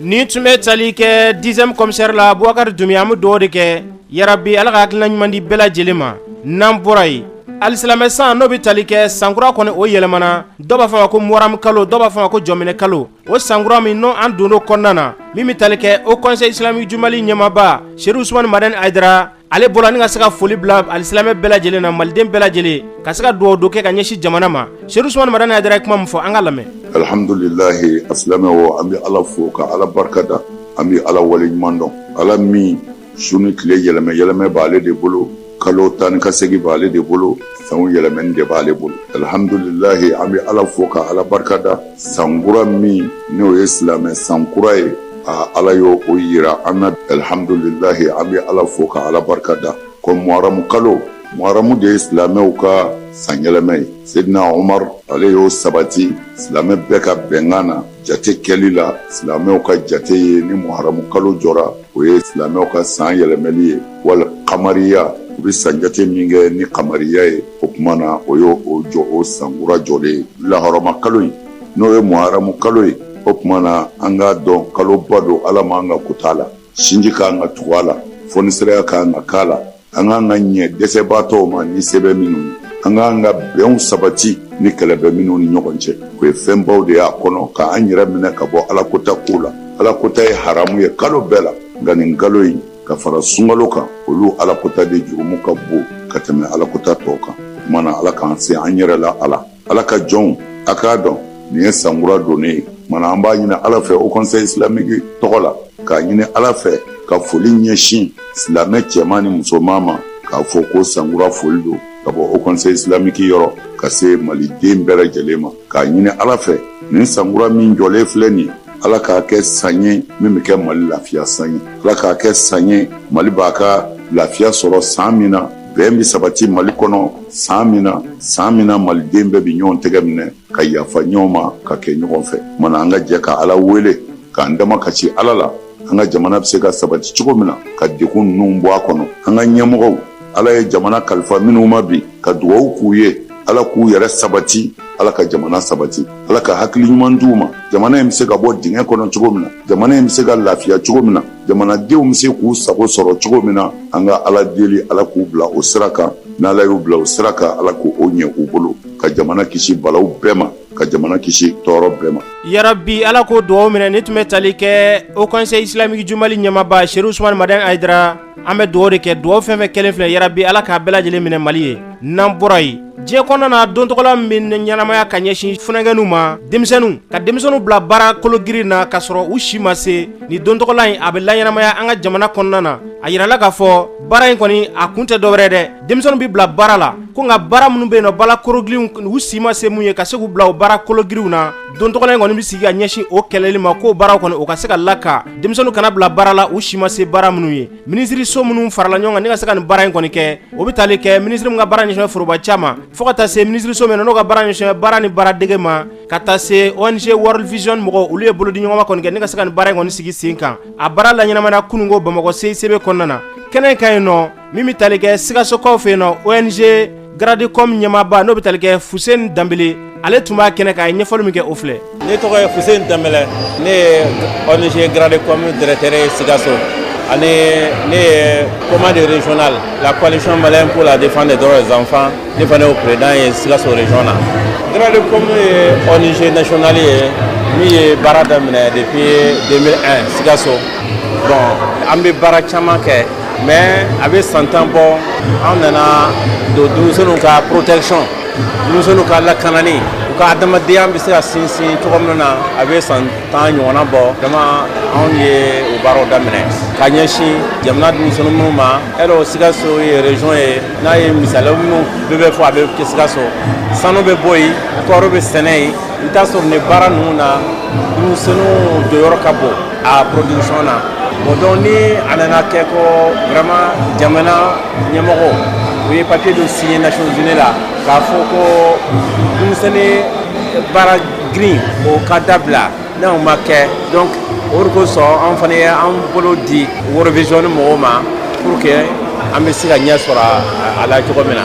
nin tun bɛ tali kɛ dixième commissaire la Boubacar Doumbia an bɛ dugawu de kɛ yarabi ala ka hakilina ɲuman di bɛɛ lajɛlen ma n'an bɔra yen alisilamɛ san n'o bɛ tali kɛ sankura kɔni o yɛlɛmana dɔw b'a fɔ ma ko muharamu kalo dɔw b'a fɔ ma ko jɔminɛ kalo o sankura min n'o an donn'o kɔnɔna na min bɛ tali kɛ Haut conseil islamique du Mali ɲɛmaaba Chérif Ousmane Madani Haïdara ale bɔra ni ka se ka foli bila alisilamɛ bɛɛ lajɛlen na maliden bɛɛ lajɛlen ka se ka dugawu dɔ kɛ ka ɲɛsin jamana ma Chérif Ousmane Madani Haïdara ye kuma min fɔ an k'a lamɛn alihamdulilayi a silamɛw an bɛ ala fo ka ala barikada an bɛ ala wale ɲuman dɔn ala min su ni tile yɛlɛmɛ yɛlɛmɛ b'ale de bolo kalo taa ka segin b'ale de bolo san yɛlɛmɛ de b'ale bolo alihamdulilayi an bɛ ala fo ka ala barika da sankura min n'o ye silamɛ sankura ye aa ala y' o jira an na alihamdulilayi an bɛ ala fo ka ala barika da ko muharamu kalo muharamu de ye silamɛw ka san yɛlɛmɛ ye sedina omari ale y'o sabati silamɛ bɛɛ ka bɛnkan na Jate kɛli la silamɛw ka jate ye ni muharamu kalo jɔra o ye silamɛw ka san yɛlɛmali ye wala kamariya u bɛ san jate min kɛ ni kamariya ye o tuma na o y' o jɔ o sankura jɔlen ye lahɔrɔma kalo ye n'o ye muharamu kalo ye o tuma na an k'a dɔn kaloba don ala ma an ka ku la sinji k'an ka tugu a la fonisireya k'an ka kaana la an k'an ka ɲɛ dɛsɛbaatɔw ma ni se bɛ minnu ye an k'an ka bɛnw sabati ni kɛlɛ bɛ minnu ni ɲɔgɔn cɛ o ye fɛnbaw de y'a kɔnɔ ka an yɛrɛ minɛ ka bɔ alakota ko la alakota ye haramu ye kalo bɛɛ la nka nin kalo in ka fara sunkalo kan olu alakota de jurumu ka bon ka tɛmɛ alakota tɔw kan o tuma na ala k'an se an yɛrɛ la ala ala ka jɔnw a k'a dɔn nin ye sankura donnen ye mana an b'a ɲini ala fɛ haut conseil islamique tɔgɔ la k'a ɲini ala fɛ ka foli ɲɛsin silamɛ cɛman ni musoman ma k'a fɔ ko sankura foli don ka bɔ haut conseil islamique yɔrɔ ka se maliden bɛɛ lajɛlen ma k'a ɲini ala fɛ nin sankura min jɔlen filɛ nin ye ala k'a kɛ san ye min bɛ kɛ mali lafiya san ye ala k'a kɛ san ye mali b'a ka lafiya sɔrɔ san min na bɛn bɛ sabati Mali kɔnɔ san min na, san min na maliden bɛɛ bɛ ɲɔgɔn tɛgɛ minɛ ka yafa ɲɔgɔn ma ka kɛ ɲɔgɔn fɛ. O tumana an ka jɛ ka Ala wele k'an damakasi Ala la, an ka jamana bɛ se ka sabati cogo min na, ka degun ninnu bɔ a kɔnɔ. An ka ɲɛmɔgɔw, Ala ye jamana kalifa minnu ma bi, ka dugawu k'u ye, Ala k'u yɛrɛ sabati, Ala ka jamana sabati, Ala ka hakili ɲuman d'u ma, jamana in bɛ se ka bɔ dingɛ kɔnɔ cogo min na. jamana in bɛ se ka lafiya cogo min na jamanadenw bɛ se k'u sago sɔrɔ cogo min na an ka ala deli ala k'u bila o sira kan n' ala y'u bila o sira kan ala k' o ɲɛ u bolo ka jamana kisi balaw bɛɛ ma ka jamana kisi tɔɔrɔ bɛɛ ma yarabi ala k'o dugaw minɛ nin tun bɛ tali kɛ haut conseil islamique du mali ɲɛmaaba cherif ousmane madani haïdara an bɛ dugaw de kɛ dugaw fɛn fɛn kɛlen filɛ yarabi ala k'a bɛɛ lajɛlen minɛ mali ye n'an bɔra yen diɲɛ kɔnɔna na don tɔgɔla min bɛ ɲɛnamaya ka ɲɛsin funankɛninw ma denmisɛnninw ka denmisɛnninw bila baara kologirin na k'a sɔrɔ u si ma se nin don tɔgɔla in a bɛ laɲɛnamaya an ka jamana kɔnɔna na a yirala k'a fɔ baara in kɔni a kun tɛ dɔwɛrɛ dɛ denmisɛnninw bɛ bila baara la ko nka baara minnu bɛ yen nɔ baara kologirinw u si ma se mun ye ka se k'u bila o baara kologirinw na don tɔgɔla in kɔni bɛ sigi ka ɲɛsin o kɛlɛli ma k'o baaraw kɔni o ka se ka la ka denmisɛnninw kana bila baara la u si ma se baara minnu ye minisiriso minnu farala ɲɔgɔn kan ne ka se ka nin baara in kɔni kɛ o bɛ taali kɛ minisiri min ka baara ɲɛsinnen foroba caman fo ka taa se minisiriso min n'o ka baara ɲɛsinnen baara ni baara dege ma ka taa se ong world vision mɔgɔw olu ye bolo di ɲɔgɔnma kɔni kɛ ne ka se ka nin baara in kɔni sigi sen kan a baara laɲɛnamaya kununko bamakɔ cicb kɔnɔna na kɛnɛ kan yen nɔ min bɛ tali kɛ sikasokaw fɛ yen na o ye garadikɔ ɲɛba n'o bɛ talikɛ kɛ fu danb ale tun b'a kɛnɛ k'a ye ɲɛfɔli min kɛ o filɛ ne tɔgɔ ye fu in da nese garadire ye sikaso ani ne ye kɔma dere la koalisiɔn ma ko la de fan de dɔrɔn ye zanfa ne fana o peredan ye sikaso re na garadi yese nasionali ye min ye baara daminɛ de ye den sikaso bɔn an bɛ baara caman kɛ mɛ a bɛ san tan bɔ an nana don denmisɛnninw ka porotecɔn denmisɛnninw ka lakanani u ka adamadenya bɛ se ka sinsin cogo min na a bɛ san tan ɲɔgɔnna bɔ dama anw ye o baaraw daminɛ ka ɲɛsin jamana denmisɛnnin minnu ma ɛrɛ o sikaso ye rezɔn ye n'a ye misali minnu bɛɛ bɛ fɔ a bɛ kɛ sikaso sanu bɛ bɔ yen kɔɔri bɛ sɛnɛ yen i bɛ t'a sɔrɔ nin baara ninnu na denmisɛnninw jɔyɔrɔ ka bon a production na bon donc ni a nana kɛ ko vraiment jamana ɲɛmɔgɔ u ye papier dɔ signé Nations Unies la k'a fɔ ko denmisɛnni baara girin o ka dabila n'o ma kɛ donc o de kosɔn an fana ye an bolo di World Vision mɔgɔw ma pour que an bɛ se ka ɲɛ sɔrɔ a la cogo min na.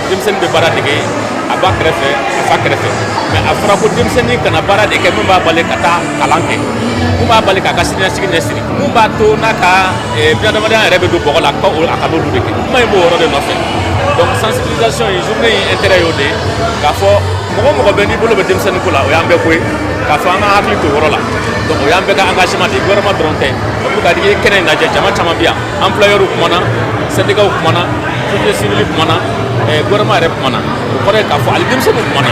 denmisɛnnin bɛ baara dege a ba kɛrɛfɛ a fa kɛrɛfɛ mɛ a fɔra ko denmisɛnnin kana baara de kɛ min b'a bali ka taa kalan kɛ mun b'a bali k'a ka siniɲɛsigi ɲɛsigi mun b'a to n'a ka eh, bunadamadenya yɛrɛ bɛ don bɔgɔ la a kan'olu de kɛ kuma in b'o yɔrɔ de nɔfɛ donc sensibilisation in journée in intérêt y'o de ye k'a fɔ mɔgɔ o mɔgɔ bɛ n'i bolo bɛ denmisɛnnin ko la o y'an bɛɛ ko ye k'a fɔ an ka hakili to o yɔrɔ la donc o y'an bɛɛ ka engagement de ye gouvernement dɔrɔn tɛ pour ka di i ye kɛnɛ in lajɛ jama caman bɛ yan employeurs kumana syndicats kumana société civile kumana gouvernement yɛrɛ kumana o kɔrɔ k'a fɔ ali denmisɛnnin kumana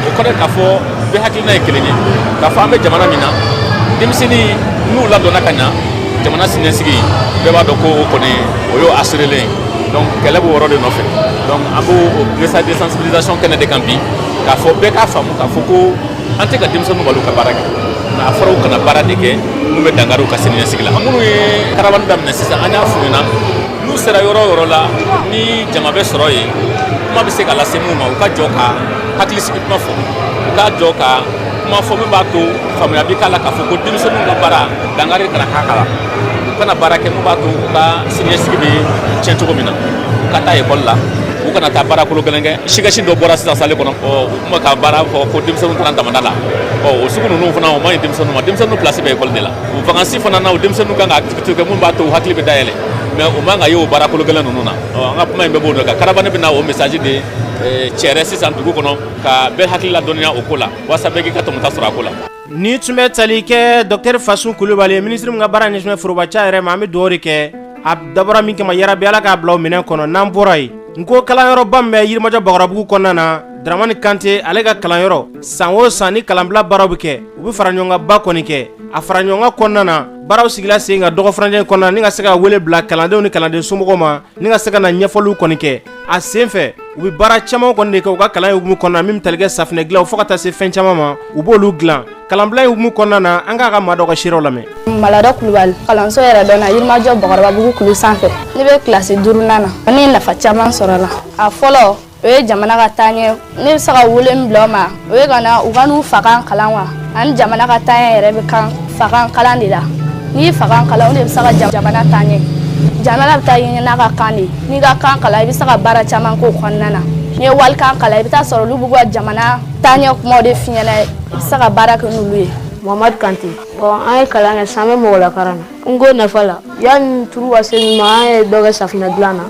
o kɔrɔ k'a fɔ bɛɛ hakilina ye kelen ye k'a fɔ an bɛ jamana min na denmisɛnnin n'u ladonna ka ɲa jamana siniɲɛsigi bɛɛ b'a dɔn ko o kɔni o y'o assurélen donc kɛlɛ b'o yɔrɔ de nɔfɛ donc an b'o message de sensibilisation kɛnɛ de kan bi k'a fɔ bɛɛ k'a faamu k'a fɔ ko an tɛ ka denmisɛnninw bali ka baara kɛ nka a fɔra u kana baara de kɛ mun bɛ dankari u ka siniɲɛsigi la minnu ye karabani daminɛ sisan an y'a f'u ɲɛna n'u sera yɔrɔ o yɔrɔ la ni jama bɛ sɔrɔ yen kuma bɛ se ka lase minnu ma u ka jɔ ka hakilisigi kuma fɔ u ka jɔ ka kuma fɔ min b'a to faamuya bɛ k'a la k'a fɔ ko denmisɛnninw ka baara dankari kana k'a kala u kana baara kɛ min b'a to u ka siniɲɛsigi bɛ tiɲɛ cogo min na u ka taa ekɔli la u kana taa baara kolo gɛlɛn kɛ sketch dɔ bɔra sisan salle kɔnɔ tun bɛ ka baara fɔ ko denmisɛnninw taara damanda la ɔ o sugu ninnu fana o man ɲi denmisɛnninw ma denmisɛnninw pilasi bɛ ekɔli de la vakansi fana na o denmisɛnninw kan ka activité kɛ mun b'a to u hakili bɛ dayɛlɛ mais o man ka ye o baara kolo gɛlɛn ninnu na ɔ an ka kuma in bɛɛ b'o de kan karabane bɛna o message de cɛrɛ sisan dugu kɔnɔ ka bɛɛ hakili ladɔnniya o ko la walasa bɛɛ k'i ka tɔmɔta sɔrɔ a ko la Ni tun bɛ tali kɛ dɔkitɛri fasun kulubali ye minisiri min ka baara ɲɛsinnen forobaca yɛrɛ ma an bɛ dugawu de kɛ a dabɔra min kama yarabi ala k'a bila o minɛn kɔnɔ n'an bɔra yen n ko kalanyɔrɔba min bɛ yirimajɔ bakɔrɔbabugu kɔnɔna na daramani kante ale ka kalanyɔrɔ san o san ni kalanbila baaraw bɛ kɛ u bɛ faraɲɔgɔnkanba kɔni kɛ a faraɲɔgɔnkan kɔnɔna na baaraw sigila senkan dɔgɔ furancɛ kɔnɔna ni ka se ka wele bila kalandenw ni kalanden somɔgɔw ma ni ka se ka na ɲɛfɔliw kɔni kɛ a senfɛ u bɛ baara caman kɔni de kɛ u ka kalan in hukumu kɔnɔna min bɛ tali kɛ safinɛ dilan fo ka taa se fɛn caman ma u b'olu dilan kalanbila in hukumu kɔnɔna na an k'a ka maa dɔ ka seerew lamɛn malada kulubali kalanso yɛrɛdɔn yirimajɔ bakɔrɔbabugu kulu sanfɛ ne bɛ kilasi duurunan na ne ye nafa caman sɔrɔ la a fɔlɔ o ye jamana ka taaɲɛ ne bɛ se ka wele min bila o ma o ye ka na u ka n'u fakan kalan wa ani jamana ka taaɲɛ yɛrɛ bɛ kan fakan kalan de la n'i ye fakan kalan o de bɛ se ka jamana taaɲɛ jamana bɛ taa ɲɛ n'a ka kan de ye n'i ka kan kalan i bɛ se ka baara caman k'o kɔnɔna na n'i ye walikan kalan i bɛ taa sɔrɔ olu b'u ka jamana taaɲɛ kumaw de f'i ɲɛna i bɛ se ka baara kɛ n'olu ye mamadu kante bɔn an ye kalan kɛ san bɛ mɔgɔ lakaran na nko nafa la yanni turu ka se nin ma an ye dɔ kɛ safinɛ dilan na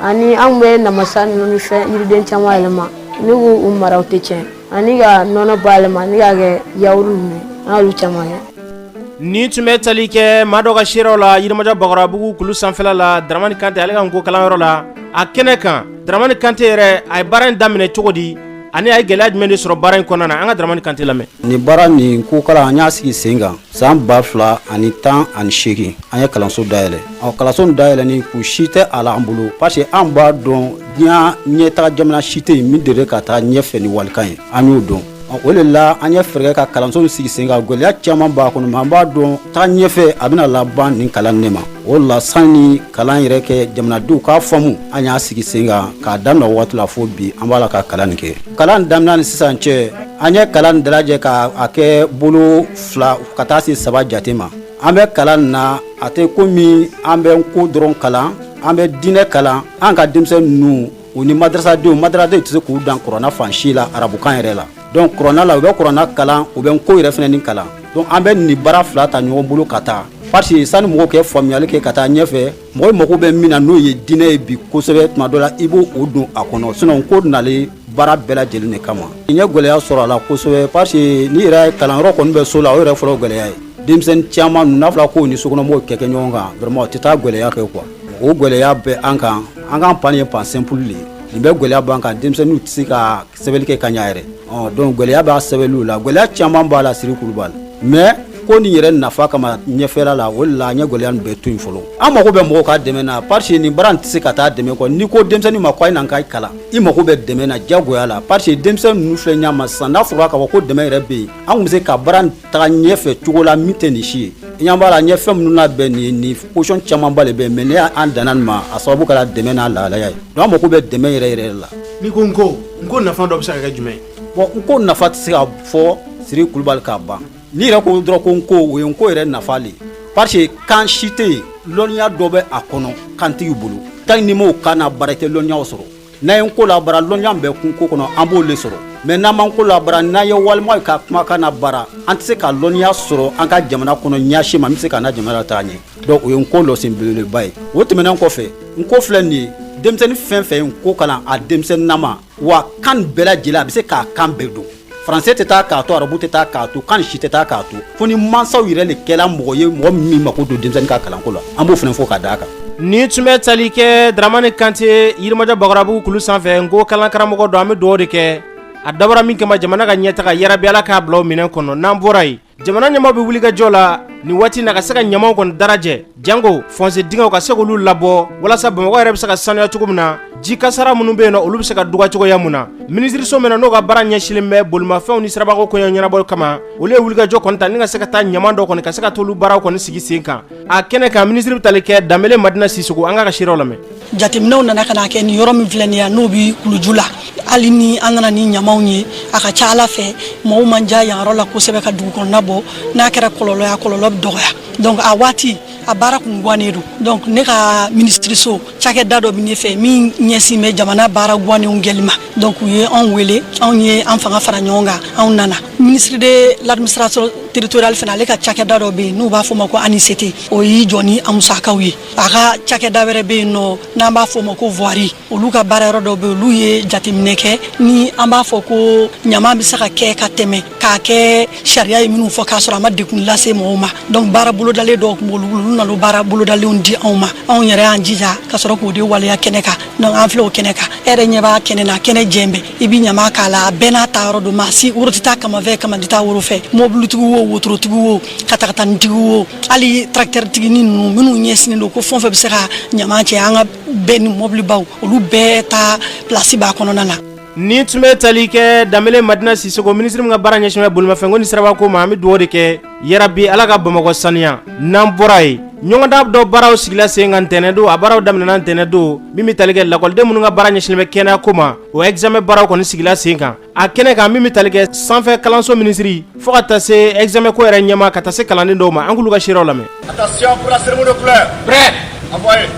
ani anw bɛ namasa ninnu ni fɛn yiriden caman yɛlɛma ani k'u mara u tɛ tiɲɛ ani ka nɔnɔ bayɛlɛma ani k'a kɛ yawuru ninnu an y'olu caman kɛ nin tun bɛ tali kɛ maa dɔ ka seerew la yirimajɔ bakɔrɔbabugu kulu sanfɛla la daramani kante ale ka nko kalanyɔrɔ la a kɛnɛ kan daramani kante yɛrɛ a ye baara in daminɛ cogo di ani a ye gɛlɛya jumɛn de sɔrɔ baara in kɔnɔna na an ka daramani kante lamɛn nin baara nin nko kalan an y'a sigi sen kan san ba fila ani tan ani seegin an ye kalanso dayɛlɛ ɔ kalanso dayɛlɛni kun si tɛ a la an bolo parce que an b'a dɔn diɲɛ ɲɛtaga jamana si tɛ yen min dere ka taa ɲɛfɛ ni walikan ye an y'o dɔn o de la an ye fɛɛrɛ kɛ ka kalanso sigi sen kan gɛlɛya caman b'a kɔnɔ mais an b'a dɔn taga ɲɛfɛ a bɛna laban nin kalan ne ma o la sanni kalan yɛrɛ kɛ jamanadenw k'a faamu an y'a sigi sen kan k'a daminɛ waati la fo bi an b'a la ka kalan nin kɛ kalan daminɛ ni sisan cɛ An ye kalan in dalajɛ k' a kɛ bolo fila ka taa se saba jate ma an bɛ kalan na a tɛ komi an bɛ nko dɔrɔn kalan an bɛ diinɛ kalan an ka denmisɛn ninnu u ni madrasadenw madrasadenw tɛ se k'u dan kurana fan si la arabukan yɛrɛ la donc kurana la u bɛ kurana kalan u bɛ nko yɛrɛ fana nin kalan donc an bɛ nin baara fila ta ɲɔgɔn bolo ka taa parce que sanni mɔgɔw ka faamuyali kɛ ka taa ɲɛfɛ mɔgɔ mago bɛ min na n'o ye diinɛ ye bi kosɛbɛ tuma dɔ la i b'o don a kɔnɔ sinon nko nalen baara bɛɛ lajɛlen de kama n ye gɛlɛya sɔrɔ a la kosɛbɛ parce que ne yɛrɛ kalanyɔrɔ kɔni bɛ so la o yɛrɛ fɔlɔ gɛlɛya ye denmisɛnnin caman ninnu n'a fɔra k'u ni sokɔnɔmɔgɔw ka kɛ ɲɔgɔn kan vraiment o tɛ taa gɛlɛya kɔ quoi o gɛlɛya bɛ an kan an ka banc nin ye banc simple de ye nin bɛɛ gɛlɛya b'an kan denmisɛnninw tɛ se ka sɛbɛnni kɛ ka ɲa yɛrɛ donc gɛlɛya b'a sɛbɛnniw la gɛlɛya caman b'a la Siri Kulubali mais nko nin yɛrɛ nafa kama ɲɛfɛla la o de la an ye gɛlɛya nin bɛɛ to yen fɔlɔ an mago bɛ mɔgɔw ka dɛmɛ na parce que nin baara in tɛ se ka taa dɛmɛ kɔ n'i ko denmisɛnnin ma ko a ye na an ka kalan i mago bɛ dɛmɛ na diyagoya la parce que denmisɛnnin ninnu filɛ ɲɛ ma sisan n'a fɔra k'a fɔ ko dɛmɛ yɛrɛ bɛ yen an tun bɛ se ka baara taga ɲɛfɛ cogo la min tɛ nin si ye i ɲɛ b'a la ɲɛ fɛn minnu labɛn nin nin position camanba le bɛ mais n'an danna nin ma a sababu kɛra dɛmɛ n'a lahalaya ye donc an mako bɛ dɛmɛ yɛrɛ yɛrɛ la n'i ko nko nko nafa dɔ bɛ se ka kɛ jumɛn ye bon nko nafa tɛ se ka fɔ siri kulubali k'a ban n'i yɛrɛ ko dɔrɔn ko nko o ye nko yɛrɛ nafa le parce que kan si tɛ yen lɔnniya dɔ bɛ a kɔnɔ kan tigi bolo tant n'i m'o kan nabaara i tɛ lɔnniyaw sɔrɔ n'an ye nko labaara lɔnniya bɛ kun ko kɔnɔ an b'o le sɔrɔ mais n'an ma nko labaara n'an ye wali maa ka kumakan nabaara an tɛ se ka lɔnniya sɔrɔ an ka jamana kɔnɔ ɲɛsi ma min bɛ se k'an na jamana lataga ɲɛ donc o ye nko lɔsen belebeleba ye o tɛmɛnen kɔfɛ nko filɛ nin ye denmisɛnnin fɛn fɛn ye nko kalan a denmisɛnninnama wa kan bɛɛ lajɛlen a bɛ se k'a kan bɛɛ dɔn Faransɛ tɛ taa k'a to arabu tɛ taa k'a to kan si tɛ taa k'a to fo ni mansaw yɛrɛ le kɛla mɔgɔ ye mɔgɔ min mako don denmisɛnnin ka kalanko la an b'o fana fɔ ka d'a kan nin tun bɛ tali kɛ dramani kante yirimajɔ bakarabugu kulu sanfɛ nko kalan karamɔgɔ don an bɛ dugawu de kɛ a dabɔra min kama jamana ka ɲɛtaga yarabi ala k'a bila o minɛn kɔnɔ n'an bɔra yen jamana ɲɛmaaw bɛ wulikajɔ la nin waati na ka se ka ɲamaw kɔni dalajɛ janko fɔnse dingɛw ka se k'olu labɔ walasa bamakɔ yɛrɛ bɛ se ka sanuya cogo min na ji kasara minnu bɛ yen nɔ olu bɛ se ka dɔgɔya cogoya mun na minisiriso min n'o ka baara ɲɛsinlen bɛ bolimafɛnw ni sirabako koɲɛ ɲɛnabɔ kama olu ye wulikajɔ kɔni ta ni ka se ka taa ɲama dɔ kɔni ka se ka t'olu baaraw kɔni sigi sen kan a kɛnɛ kan minisiri bɛ tali kɛ danbele madina sisoko an ka ka seerew lamɛn jateminɛw nana ka na kɛ nin yɔrɔ min filɛ nin ye n'o bɛ kuluju la hali ni an nana ni ɲamaw ye a ka ca ala fɛ mɔgɔw man diya yan yɔrɔ la kosɛbɛ ka dugu kɔnɔna bɔ n'a kɛra kɔlɔlɔ ye a kɔlɔlɔ bɛ dɔgɔya donc a waati a baara kun guwannen don donc ne ka minisiriso cakɛda dɔ bɛ ne fɛ min ɲɛsin bɛ jamana baara guwannenw kɛli ma donc u ye anw wele anw ye an fanga fara ɲɔgɔn kan anw nana ministre de l'administration territoriale fana ale ka cakɛda dɔ bɛ yen n'u b'a fɔ o ma ko anisete o y'i jɔ ni a musakaw ye a ka cakɛda wɛrɛ bɛ yen nɔ n'an b'a fɔ o ma ko voirie olu ka baara yɔrɔ dɔ bɛ yen olu ye jateminɛ kɛ ni an b'a fɔ ko ɲama bɛ se ka kɛ ka tɛmɛ k'a kɛ sariya ye minnu fɔ k'a sɔrɔ a ma degun lase mɔgɔw ma donc baara bolodalen dɔw tun b'olu bolo olu nana o baara bolodalenw di anw ma anw yɛrɛ y'an jija ka sɔrɔ k'o de waleya kɛnɛ kan donc an filɛ o kɛnɛ kan e yɛrɛ ɲɛ b'a kɛnɛ na kɛnɛ jɛlen bɛ i bɛ ɲama k'a la a bɛɛ n'a ta yɔrɔ don maa si woro tɛ taa kaman fɛ kaman tɛ taa woro fɛ mɔbilitigi wo wotorotigi wo katakatanitigi wo hali tarakitɛritigi ni ninnu minnu ɲɛsinnen don ko fɛn o fɛn bɛ se ka ɲama cɛ an ka bɛni mɔbilibaw olu bɛɛ ta pilasi b'a kɔnɔna na Nin tun bɛ tali kɛ danbɛlɛ Madina Sisoko minisiri min ka baara ɲɛsinnen bɛ bolimafɛnko ni sirabako ma an bɛ dugawu de kɛ yarabi ala ka bamakɔ saniya n'an bɔra yen ɲɔgɔndan dɔ baaraw sigila sen kan ntɛnɛn don a baaraw daminɛna ntɛnɛn don min bɛ tali kɛ lakɔliden minnu ka baara ɲɛsinnen bɛ kɛnɛya ko ma o examen baaraw kɔni sigila sen kan a kɛnɛ kan min bɛ tali kɛ sanfɛ kalanso minisiri fo ka taa se examen ko yɛrɛ ɲɛmaa ka taa se kalanden dɔw ma an k'olu ka seerew lamɛn Attention pour la cérémonie de couleur. Prêt. Envoyez.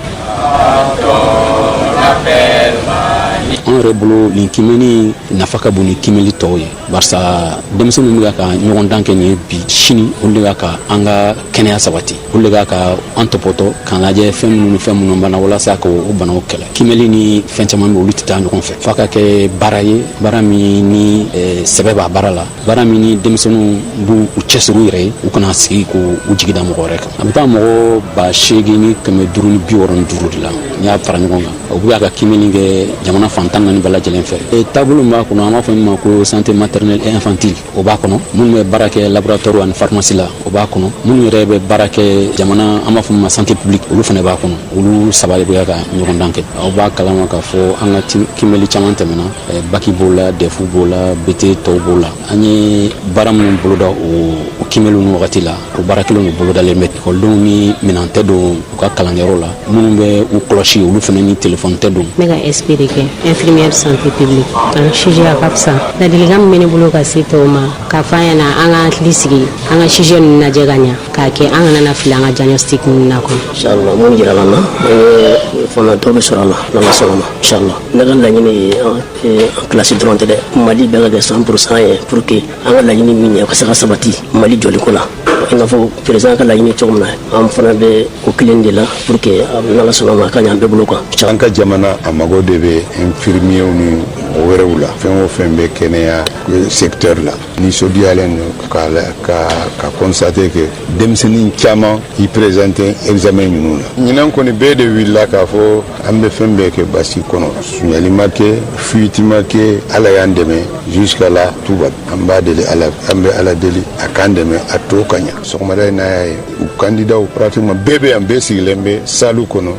an yɛrɛ bolo nin kimɛni nafa ka bon ni kimɛli tɔw ye barisa denmisɛnninw bɛ ka ka ɲɔgɔndan kɛ nin ye bi sini olu de ka ka an ka kɛnɛya sabati olu de ka ka an tɔpɔtɔ k'an lajɛ fɛn minnu ni fɛn minnu bana walasa ka o banaw kɛlɛ kimɛli ni fɛn caman bɛ olu tɛ taa ɲɔgɔn fɛ f'a ka kɛ baara ye baara min ni eh, sɛbɛ b'a baara la baara min ni denmisɛnninw b'u cɛsiri u yɛrɛ ye u kana sigi ko u jigi da mɔgɔ wɛrɛ kan a bɛ taa mɔgɔ ba seegin ni kɛmɛ duuru ni bi wɔɔrɔ ni duuru de la n'i y'a fara ɲɔgɔn kan o bɛ ka kimɛli kɛ jamana fan tan naani bɛɛ lajɛlen fɛ e taabolo min b'a kɔnɔ an b'a fɔ min ma ko santé maternelle et infantile o b'a kɔnɔ minnu bɛ baara kɛ laboratoire ani pharmacie la o b'a kɔnɔ minnu yɛrɛ bɛ baara kɛ jamana an b'a fɔ min ma santé publique olu fana b'a kɔnɔ olu saba de bɛ ka ɲɔgɔndan kɛ aw b'a kalama k'a fɔ an ka kimɛli caman tɛmɛna Eh, baki b'o la dɛfu b'o la bete tɔw b'o la an ye baara minnu boloda o kimɛliw ni wagati la o baara kelen de bolodalen bɛ ekɔlidenw ni minan tɛ don u ka kalanyɔrɔ la minnu bɛ u kɔlɔsi olu fana ni telefɔni tɛ don ne ka sp de kɛ infirmière santé publique an sujet a ka fisa ladilikan min bɛ ne bolo ka se tɔw ma k'a fɔ an ɲɛna an ka hakili sigi an ka sujet ninnu lajɛ ka ɲa k'a kɛ an kana na fili an ka diagnostic ninnu na kɔnɔ inchallah mun jirala n na fana dɔ bɛ sɔrɔ a la n'ala sɔnna ma inchallah ne ka laɲini ye an kilasi dɔrɔn tɛ dɛ mali bɛɛ ka kɛ cent pour cent ye pour que an ka laɲini min ye ka se ka sabati mali jɔli ko la i n'a fɔ président ka laɲini cogo min na an fana bɛ o kelen de la pour que n'ala sɔnna ma a ka ɲa an bɛɛ bolo kan an ka jamana a mago de bɛ infirmiyew ni mɔgɔ wɛrɛw la fɛn o fɛn bɛ kɛnɛya secteur la nisɔndiyalen don ka constater que denmisɛnnin caman k'i présenter examen ninnu na ɲinan kɔni bɛɛ de wulila k'a fɔ an bɛ fɛn bɛɛ kɛ basigi kɔnɔ sunyali ma kɛ fuite ma kɛ ala y'an dɛmɛ jusqu'à la tuba an b'a deli ala an bɛ ala deli a k'an dɛmɛ a tɔ ka ɲa sɔgɔmada in n'a y'a ye u kandidaw pratiquement bɛɛ bɛ yan bɛɛ sigilen bɛ salu kɔnɔ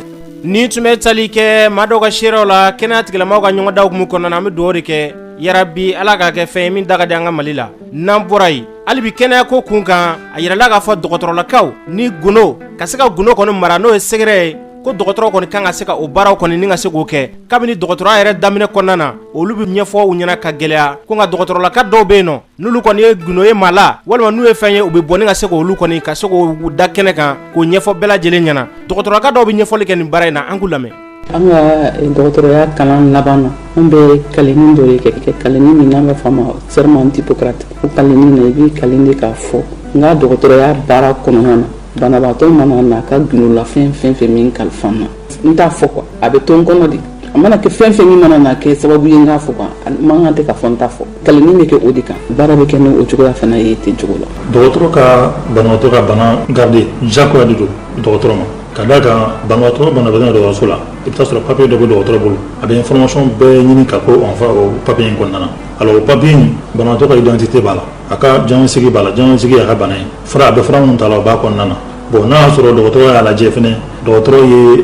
nin tun bɛ tali kɛ maa dɔw ka seerew la kɛnɛya tigilamaaw ka ɲɔgɔndan hukumu kɔnɔna na an bɛ dugawu de kɛ yarabi ala k'a kɛ fɛn ye min da ka di an ka mali la n'an bɔra yen hali bi kɛnɛya ko kun kan a yirala k'a fɔ dɔgɔtɔrɔlakaw ni gundo ka se ka gundo kɔni mara n'o ye sɛgɛrɛ ye ko dɔgɔtɔrɔ kɔni kan ka se ka o baaraw kɔni ni ka se k'o kɛ kabini dɔgɔtɔrɔya yɛrɛ daminɛ kɔnɔna na olu bɛ ɲɛfɔ u ɲɛna ka gɛlɛya ko nka dɔgɔtɔrɔlaka dɔw bɛ yen nɔ N'olu kɔni ye gundo ye maa la walima n'u ye fɛn ye u bɛ bɔ ni ka se k'olu kɔni ka se k'o da kɛnɛ kan k'o ɲɛfɔ bɛɛ lajɛlen ɲɛna dɔgɔtɔrɔka dɔw bɛ ɲɛfɔli kɛ nin baara in na an k'u lamɛn an ka dɔgɔtɔrɔya kalan laban na an bɛ kalenni dɔ de kɛ kalenni min n'an b'a fɔ ma serment d'Hippocrate o kalenni na i b'i kalen de k'a fɔ n ka dɔgɔtɔrɔya baara kɔnɔna na banabagatɔ mana na a ka gundolafɛn fɛn fɛn min kalifa n na n t'a fɔ kuwa a bɛ to n kɔnɔ de a mana kɛ fɛn fɛn min mana na kɛ sababu ye n k'a fɔ kan man kan tɛ ka fɔ n t'a fɔ kali in bɛ kɛ o de kan baara bɛ kɛ ni o cogoya fana ye ten cogo la dɔgɔtɔrɔ ka banabagatɔ ka bana garder jagoya de don dɔgɔtɔrɔ ma ka d'a kan banabagatɔ banabagatɔ dɔgɔtɔrɔso la i bɛ taa sɔrɔ papiye dɔ bɛ dɔgɔtɔrɔ bolo a bɛ information bɛɛ ɲini ka k'o enfin o papiye in kɔnɔna na alors o papiye in banabagatɔ ka identité b'a la a ka diagnostic b'a la diagnostic y'a ka bana ye fura a bɛ fura minnu ta la o b'a kɔnɔna na bon n'a y'a sɔrɔ dɔgɔtɔrɔ y'a lajɛ fana dɔgɔtɔrɔ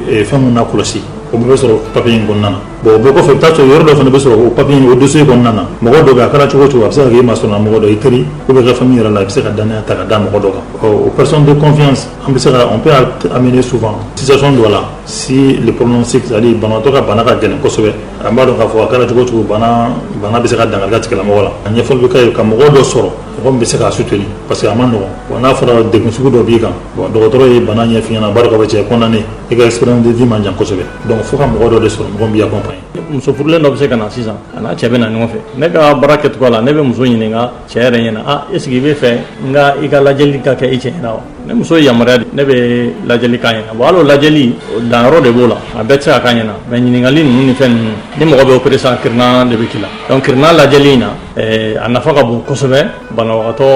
ye fɛn minnu nakɔlɔsi o bɛɛ bɛ sɔrɔ papiye in kɔnɔna na bon o bɛɛ kɔfɛ i bɛ taa sɔrɔ yɔrɔ dɔ fana bɛ sɔrɔ o papiye o dossier kɔnɔna na mɔgɔ dɔ bɛ a kɛra cogo o cogo a bɛ se ka kɛ i masurunnamɔgɔ dɔ i teri ou bien i ka famille yɛrɛ la i bɛ se ka dannaya ta ka da mɔgɔ dɔ kan o personne de confiance an bɛ se on peut amener souvent situation dɔ la si le pronostic c'est-à-dire banabagatɔ ka bana ka gɛlɛn kosɛbɛ an b'a dɔn k'a fɔ a kɛra cogo o cogo bana bɛ se ka dankari kɛ tigilamɔgɔ la a ɲɛfɔli bɛ k'a ye ka mɔgɔ dɔ sɔrɔ mɔgɔ min bɛ se k'a soutenir parce que a man nɔgɔn bon n'a fɔra degun sugu dɔ b'i kan bon dɔgɔtɔrɔ ye bana ɲɛf'i ɲɛna a b'a dɔn k'a fɔ t'es condamné i ka espérance de vie man jan kosɛbɛ donc fo ka mɔgɔ dɔ de sɔrɔ mɔgɔ min b'i accompagner muso furulen dɔ bɛ se ka na sisan a n'a cɛ bɛ na ɲɔgɔn fɛ ne ka baara kɛcogoya la ne bɛ muso ɲininka cɛ yɛrɛ ɲɛna a est ce que i bɛ fɛ n ka i ka lajɛli ka kɛ i cɛ ɲɛna wa ni muso ye yamaruya di ne bɛ lajɛli k'a ɲɛna bon hali o lajɛli danyɔrɔ de b'o la a bɛɛ tɛ se ka k'a ɲɛna mais ɲininkali ninnu ni fɛn ninnu ni mɔgɔ bɛ opérer sisan kirina de bɛ k'i la donc kirina lajɛli in na a nafa ka bon kosɛbɛ banabagatɔ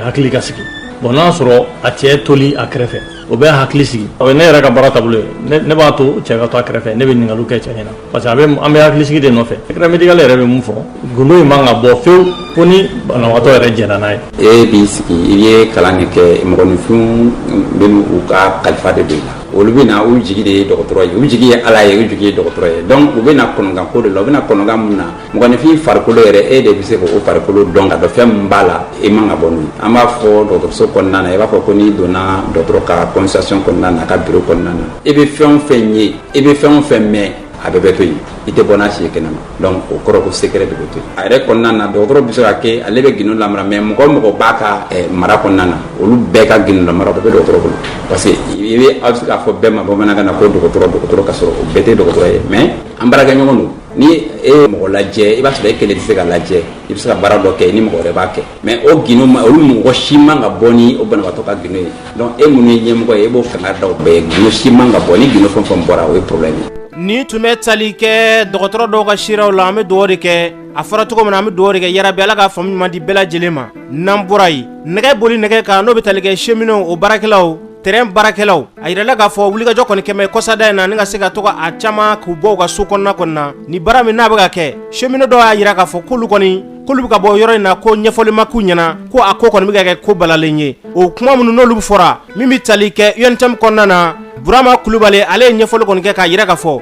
hakili ka sigi bon n'a y'a sɔrɔ a cɛ toli a kɛrɛfɛ o bɛ hakili sigi ne yɛrɛ ka baara taabolo ye ne b'a to cɛ ka to a kɛrɛfɛ ne bɛ ɲininkaliw kɛ cɛ ɲɛna parce que an bɛ hakili sigi de nɔfɛ secret médical yɛrɛ bɛ mun fɔ gundo in man ka bɔ fewu fo ni banabagatɔ yɛrɛ jɛnna n'a ye e b'i sigi i ye kalan de kɛ mɔgɔninfinw bɛ u ka kalifa de don i la olu bɛ na u jigi de ye dɔgɔtɔrɔ ye u jigi ye ala ye u jigi ye dɔgɔtɔrɔ ye donc u bɛ na kɔnɔgan ko de la u bɛ na kɔnɔgan mun na mɔgɔninfin farikolo yɛrɛ e de bɛ se k'o farikolo dɔn ka dɔn fɛn min b'a la i man ka bɔ n'o ye an b'a fɔ dɔgɔtɔrɔso kɔnɔna na i b'a fɔ ko n'i donna dɔgɔtɔrɔ ka consultation kɔnɔna na a ka biro kɔnɔna na i bɛ fɛn o fɛn ye i bɛ fɛn o fɛn mɛn a bɛɛ bɛ to yen i tɛ bɔ n'a si ye kɛnɛma donc o kɔrɔ ko secret de bɛ to yen a yɛrɛ kɔnɔna na dɔgɔtɔrɔ bɛ se ka kɛ ale bɛ gindo lamara mais mɔgɔ o mɔgɔ b'a ka eh, mara kɔnɔna na olu bɛɛ ka gindo lamara o bɛɛ bɛ dɔgɔtɔrɔ bolo parce que i bɛ aw bɛ se k'a fɔ bɛɛ ma bamanankan na ko dɔgɔtɔrɔ dɔgɔtɔrɔ ka sɔrɔ o bɛɛ tɛ dɔgɔtɔrɔ ye mais an baarakɛɲɔgɔn don ni e ye mɔgɔ lajɛ i b'a sɔrɔ e kelen tɛ se ka lajɛ i bɛ se ka baara dɔ kɛ ni mɔgɔ wɛrɛ b'a kɛ mais o gindo olu mɔgɔ si man ka bɔ ni o banabagatɔ ka gindo ye donc e minnu ye ɲɛmɔgɔ ye e b'o kankari da o bɛɛ ye gindo si man ka bɔ ni gindo fɛn fɛn bɔra o ye problème ye nin tun bɛ tali kɛ dɔgɔtɔrɔ dɔw ka siraw la an bɛ dugawu de kɛ a fɔra cogo min na an bɛ dugawu de kɛ yarabi ala ka faamu ɲuman di bɛɛ lajɛlen ma n'an bɔra yen nɛgɛ boli nɛgɛ kan n'o bɛ tali kɛ cheminɛw o baarakɛlaw tren baarakɛlaw a yirala k'a fɔ wulikajɔ kɔni kɛlen kɔsada in na ni ka se ka to a caman k'u bɔ u ka so kɔnɔna kɔnɔ na ni baara min n'a bɛ ka kɛ cheminɛ dɔw y'a yira k'a fɔ k'olu kɔni k'olu bɛ ka bɔ yɔrɔ in na ko ɲɛfɔli ma k'u ɲɛna ko a ko kɔni bɛ ka kɛ ko balalen ye o kuma minnu n'olu fɔra min bɛ tali kɛ UNTM kɔnɔna na burama kulubali ale ye ɲɛfɔli kɔni kɛ k'a yira k'a fɔ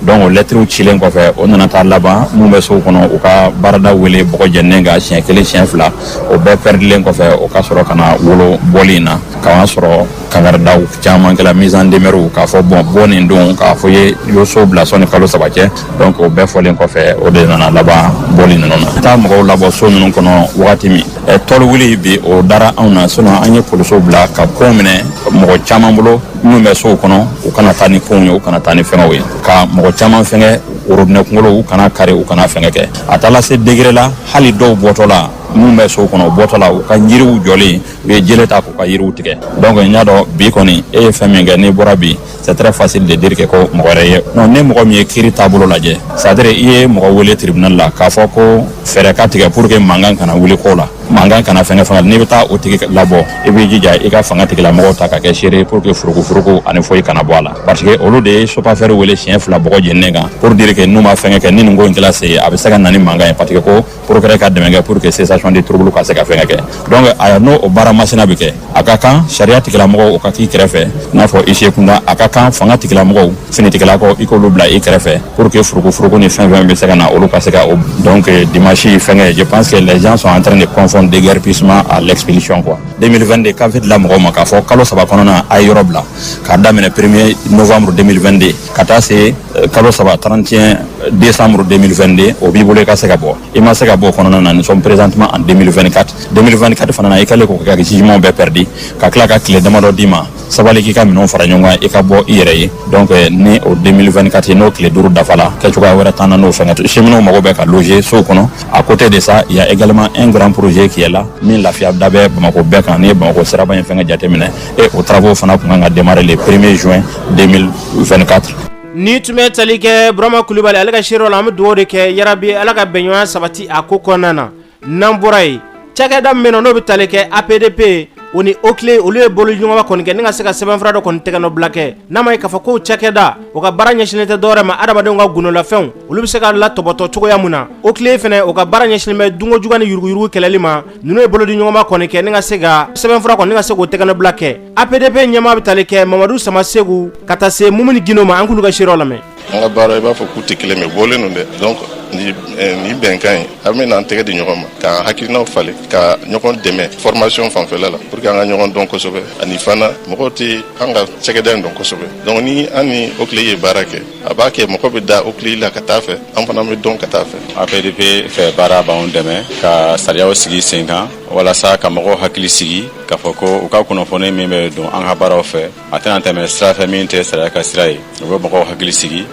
donc o lɛtiriw cilen kɔfɛ o nana taa laban minnu bɛ sow kɔnɔ u ka baarada wele bɔgɔ jeninen kan siɲɛ kelen siɲɛ fila o bɛɛ pɛridilen kɔfɛ o ka sɔrɔ ka na wolo bɔli in na k'a sɔrɔ kangaridaw caman kɛla mise en demeure k'a fɔ bon bɔ nin don k'a fɔ ye y'o so bila sɔnni kalo saba cɛ donc o bɛɛ fɔlen kɔfɛ o de nana laban bɔli ninnu na taa mɔgɔw labɔ so ninnu kɔnɔ wagati min tɔli wuli bi o dara anw na sinon an ye polisiw bila ka ko minɛ mɔgɔ caman bolo minnu bɛ sow kɔnɔ u kana taa ni fɛnw ye u kana taa ni fɛngɛw ye ka mɔgɔ caman fɛngɛ worobinɛ kunkolo u kana kari u kana fɛngɛ kɛ a taala se degré la hali dɔw bɔtɔ la minnu bɛ sow kɔnɔ u bɔtɔ la u ka yiriw jɔlen u ye jele ta k'u ka yiriw tigɛ donc n y'a dɔn bi kɔni e ye fɛn min kɛ n'i bɔra bi c'est très facile de dire que ko mɔgɔ wɛrɛ ye non ni mɔgɔ min ye kiiri taabolo lajɛ c'est à dire i ye mɔgɔ wele tribunal la k'a fɔ ko fɛɛrɛ ka tigɛ pour que mankan kana wuli ko la mankan kana fɛngɛ fana n'i bɛ taa o tigi labɔ i b'i jija i ka fanga tigilamɔgɔw ta ka kɛ seere pour que furukufuruku ani foyi kana bɔ a la parce que olu de ye SOPAFER wele siɲɛ fila bɔgɔ jeninen kan pour dire que n'u ma fɛngɛ kɛ ni nin ko in kɛla se a bɛ se ka na ni mankan ye parce que ko procureur ka dɛmɛ kɛ pour que cessation de trouble ka se ka fɛngɛ kɛ donc yan'o baara masina bɛ kɛ a ka kan sariya tigilamɔgɔw o ka k'i kɛrɛfɛ n'a fɔ huissier kunda a ka kan fanga tigilamɔgɔw finitigilakaw i k'olu bila i kɛrɛfɛ pour que furugufurugu ni fɛn fɛn bɛ se ka na olu ka se ka donc dimanche fɛngɛ je pense que les gens sont en train de confondre déguerpissement à l'expulsion quoi 2022 gafe dila mɔgɔw ma k'a fɔ kalo saba kɔnɔna a ye yɔrɔ bila k'a daminɛ premier novembre 2022 ka taa se kalo saba 31 décembre 2022 o b'i bolo i ka se ka bɔ i ma se ka bɔ o kɔnɔna na nous sommes présentement en 2024 2024 fana na i kɛlen k'o kɛ ka jugement bɛɛ pɛridi ka tila ka tile damadɔ d'i ma sabali k'i ka minɛnw fara ɲɔgɔn kan i ka bɔ i yɛrɛ ye donc ni o 2024 n'o tile duuru dafala kɛcogoya wɛrɛ t'an na n'o fɛngɛ tɛ cheminotw mago bɛ ka loger sow kɔnɔ à côté de ça il y a également un grand projet qui est là min lafiya da bɛ bamakɔ bɛɛ kan n'i ye bamakɔ siraba in fɛngɛ jateminɛ et o travaux fana tun kan ka démarrer le 1er juin 2024 Nin tun bɛ tali kɛ Burama Kulubali ale ka seereya la, an bɛ dugawu de kɛ yaa rabbi Ala ka bɛɲɔgɔnya sabati a ko kɔnɔna na, n'an bɔra yen, cakɛda min bɛ yen nɔ, n'o bɛ tali kɛ APDP o ni OCLEI olu ye bolodiɲɔgɔnma kɔni kɛ ni ka se ka sɛbɛnfura dɔ kɔni tɛgɛnɔbila kɛ, n'a ma ɲɛ k'a fɔ k'o cakɛda, o ka baara ɲɛsinnen tɛ dɔwɛrɛ ma adamadenw ka gundolanfɛnw, olu bɛ se ka latɔbɔtɔ cogoya min na, OCLEI fana o ka baara ɲɛsinnen bɛ dunkojugu ni yuruguyurugu kɛlɛli ma ninnu ye bolodiɲɔgɔnma kɔni kɛ ni ka se ka sɛbɛnfura kɔni ni ka se k'o tɛgɛnɔbila kɛ APDP ɲɛmaa bɛ tali kɛ mamadu samaseku ka taa se mumuni gindo ma an k'olu ka seereya lamɛn an ka baara i b'a fɔ k'u tɛ kelen mais bɔlen don dɛ donc nin bɛnkan ye an bɛ n'an tɛgɛ di ɲɔgɔn ma k'an hakilinaw falen ka ɲɔgɔn dɛmɛ formation fanfɛla la pour que an ka ɲɔgɔn dɔn kosɛbɛ ani fana mɔgɔw tɛ an ka cɛkɛda in dɔn kosɛbɛ donc ni an ni OCLEI ye baara kɛ a b'a kɛ mɔgɔ bɛ da oclei la ka taa fɛ an fana bɛ dɔn ka taa fɛ apdp fɛ baara b'an dɛmɛ ka sariyaw sigi sen kan walasa ka mɔgɔw hakili sigi k'a fɔ ko u ka kunnafoni min bɛ don an ka baaraw fɛ a tɛna tɛmɛ sira fɛ min tɛ sariya ka sira ye u bɛ mɔgɔw hakili sigi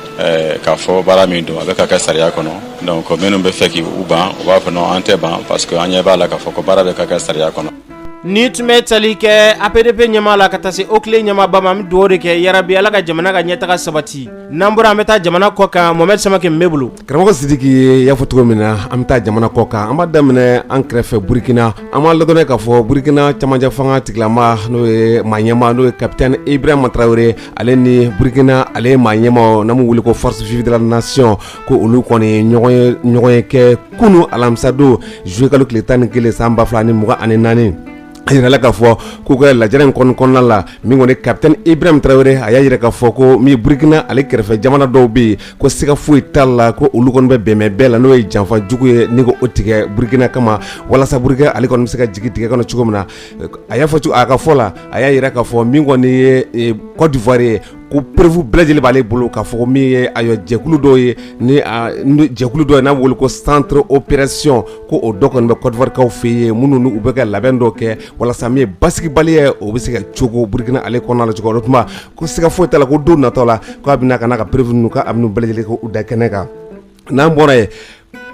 k'a fɔ baara min don a bɛ ka kɛ sariya kɔnɔ donc minnu bɛ fɛ k' u ban u b'a fɔ non an tɛ ban parce que an ɲɛ b'a la k'a fɔ ko baara bɛ ka kɛ sariya kɔnɔ Ni tun bɛ tali kɛ apdp ɲɛmaa la ka taa se oclei ɲɛmaaba ma an bɛ dugawu de kɛ yarabi ala ka jamana ka ɲɛtaga sabati n'an bɔra an bɛ taa jamana kɔ kan mohamed samake mun b'i bolo karamɔgɔ sidiki i y'a fɔ cogo min na an bɛ taa jamana kɔ kan an b'a daminɛ an kɛrɛfɛ burukina an b'a ladɔnniya k'a fɔ burukina camancɛ fanga tigilama n'o ye maa ɲɛmaa n'o ye kapitɛni ibrahima tarawele ale ni burukina ale ye maa ɲɛmaa n'an b'u wele ko forces vives de la nation ko olu kɔni ye ɲɔgɔnye kɛ kunun alamisadon zuluyekalo tile tan ni kelen san ba fila ni mugan ani naani a jirala k'a fɔ k'u ka lajɛrɛ in kɔn kɔnɔna la min kɔni kapitɛni ibrahim tarawele a y'a jira k'a fɔ ko min burukina ale kɛrɛfɛ jamana dɔw bɛ yen ko siga foyi t'a la ko olu kɔni bɛ bɛnbɛn bɛɛ la n'o ye janfa jugu ye ni ko o tigɛ burukina kama walasa burukina ale kɔni bɛ se ka jigin dingɛ kɔnɔ cogo min na a y'a fɔ a ka fɔ la a y'a jira k'a fɔ min kɔni ye kɔdiwari ye ko preuve bɛɛ lajɛlen b'ale bolo k'a fɔ min ye a jɛkulu dɔw ye ni jɛkulu dɔ ye n'a bɛ wele ko centre opération ko o dɔ kɔni bɛ kɔdiwarikaw fɛ yen minnu u bɛ ka labɛn dɔ kɛ walasa min ye basigibaliya ye o bɛ se ka cogo burukina ale kɔnɔna la cogo o tuma ko siga foyi t'a la ko don natɔ la k'a bɛna ka n'a ka preuve ninnu bɛɛ lajɛlen k'u da kɛnɛ kan n'an bɔra yen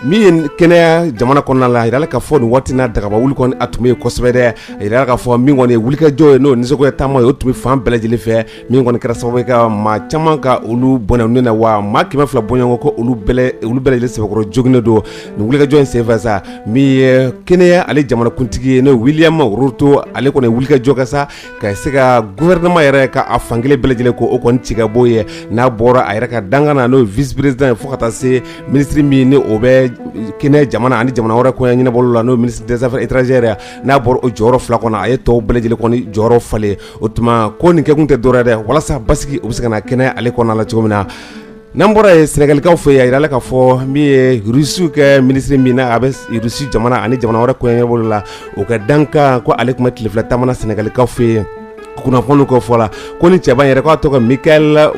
min ye kenya jamana kɔnɔna la a jirala k'a fɔ nin waati na dagaba wuli kɔni a tun bɛ yen kosɛbɛ dɛ a jirala k'a fɔ min kɔni ye wulikajɔ ye n'o nisɔngoya taama ye o tun bɛ fan bɛɛ lajɛlen fɛ min kɔni kɛra sababu ye ka maa caman ka olu bɔnɛ u ni na wa maa kɛmɛ fila bɔɲɔgɔnko ko olu bɛɛ olu bɛɛ lajɛlen sɛbɛkɔrɔ joginnen don nin wulikajɔ in senfɛ sa min ye kenya ale jamanakuntigi ye n'o ye William Ruto ale kɔni ye wulikajɔ kɛ sa ka se ka gouvernement yɛrɛ ka a fankelen bɛɛ lajɛlen ko o kɔni ci ka bɔ yen n'a bɔra a yɛrɛ ka dankan na n'o ye vice président ye fo ka taa se ministre min ni o bɛ kenya jamana ani jamana wɛrɛ koɲɛ ɲɛnabɔli la n'o ye ministre des affaires étrangères ye n'a bɔra o jɔyɔrɔ fila kɔnɔ a ye tɔw bɛɛ lajɛlen kɔni jɔyɔrɔ falen o tuma ko nin kɛkun tɛ dɔ wɛrɛ ye dɛ walasa basigi o bɛ se ka na kenya ale kɔnɔna la cogo min na n'an bɔra yen sɛnɛgalikaw fɛ yen a jirala k'a fɔ min ye rusiw ka minisiri min n'a bɛ rusi jamana ani jamana wɛrɛ koɲɛ ɲɛnabɔli la o ka dankan ko ale tun bɛ tile fila taama na sɛnɛgalikaw fɛ yen kunnafoni ka fɔ la ko nin cɛba yɛrɛ k'a tɔgɔ ko mikhail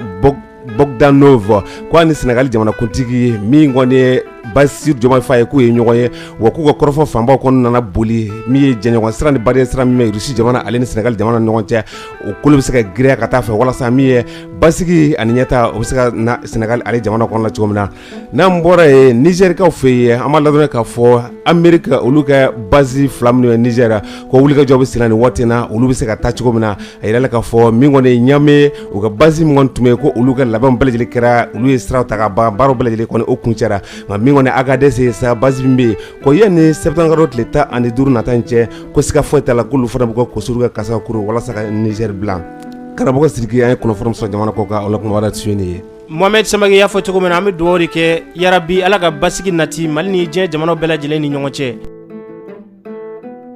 bogdanov k' a ni sɛnɛgali jamanakuntigi min kɔni ye bassirou diomaye faye k'u ye ɲɔgɔn ye wa k'u ka kɔrɔfɔ fanbaw kɔni nana boli min ye jɛɲɔgɔn sira ni badenya sira min bɛ rusi jamana ale ni sɛnɛgali jamana ni ɲɔgɔn cɛ o kolo bɛ se ka girinya ka taa fɛ walasa min ye basigi ani ɲɛtaa o bɛ se ka na sɛnɛgali ale jamana kɔnɔ la cogo min na n'an bɔra yen nizɛrikaw fɛ yen an b'a ladɔnniya k'a fɔ amerika olu ka base fila minnu ye nizɛri ko wulikajɔ bɛ sen na nin waati na olu bɛ se ka taa cogo min na a yirala k'a fɔ min kɔni ɲamɛ u ka basi min tun bɛ yen ko olu ka labɛn bɛɛ lajɛlen kɛra olu ye sira ta ka ban baara bɛɛ lajɛlen kɔni o kuncɛra nka min kɔni agadɛsi basi min bɛ yen ko yanni sɛtanburu kalo tile tan ani duuru nata in cɛ ko siga foyi t'a la k'olu fana bɛ ka koso kuru ka kasa kuru walasa ka nizɛri bila karamɔgɔ siriki an ye kunnafoni sɔrɔ jamana kɔkan oumana tun ye mohamɛdi saba y'a fɔ cogo min na an bɛ dugawu de kɛ yarabi ala ka basigi nati mali ni diɲɛ jamana bɛɛ lajɛlen ni ɲɔgɔn cɛ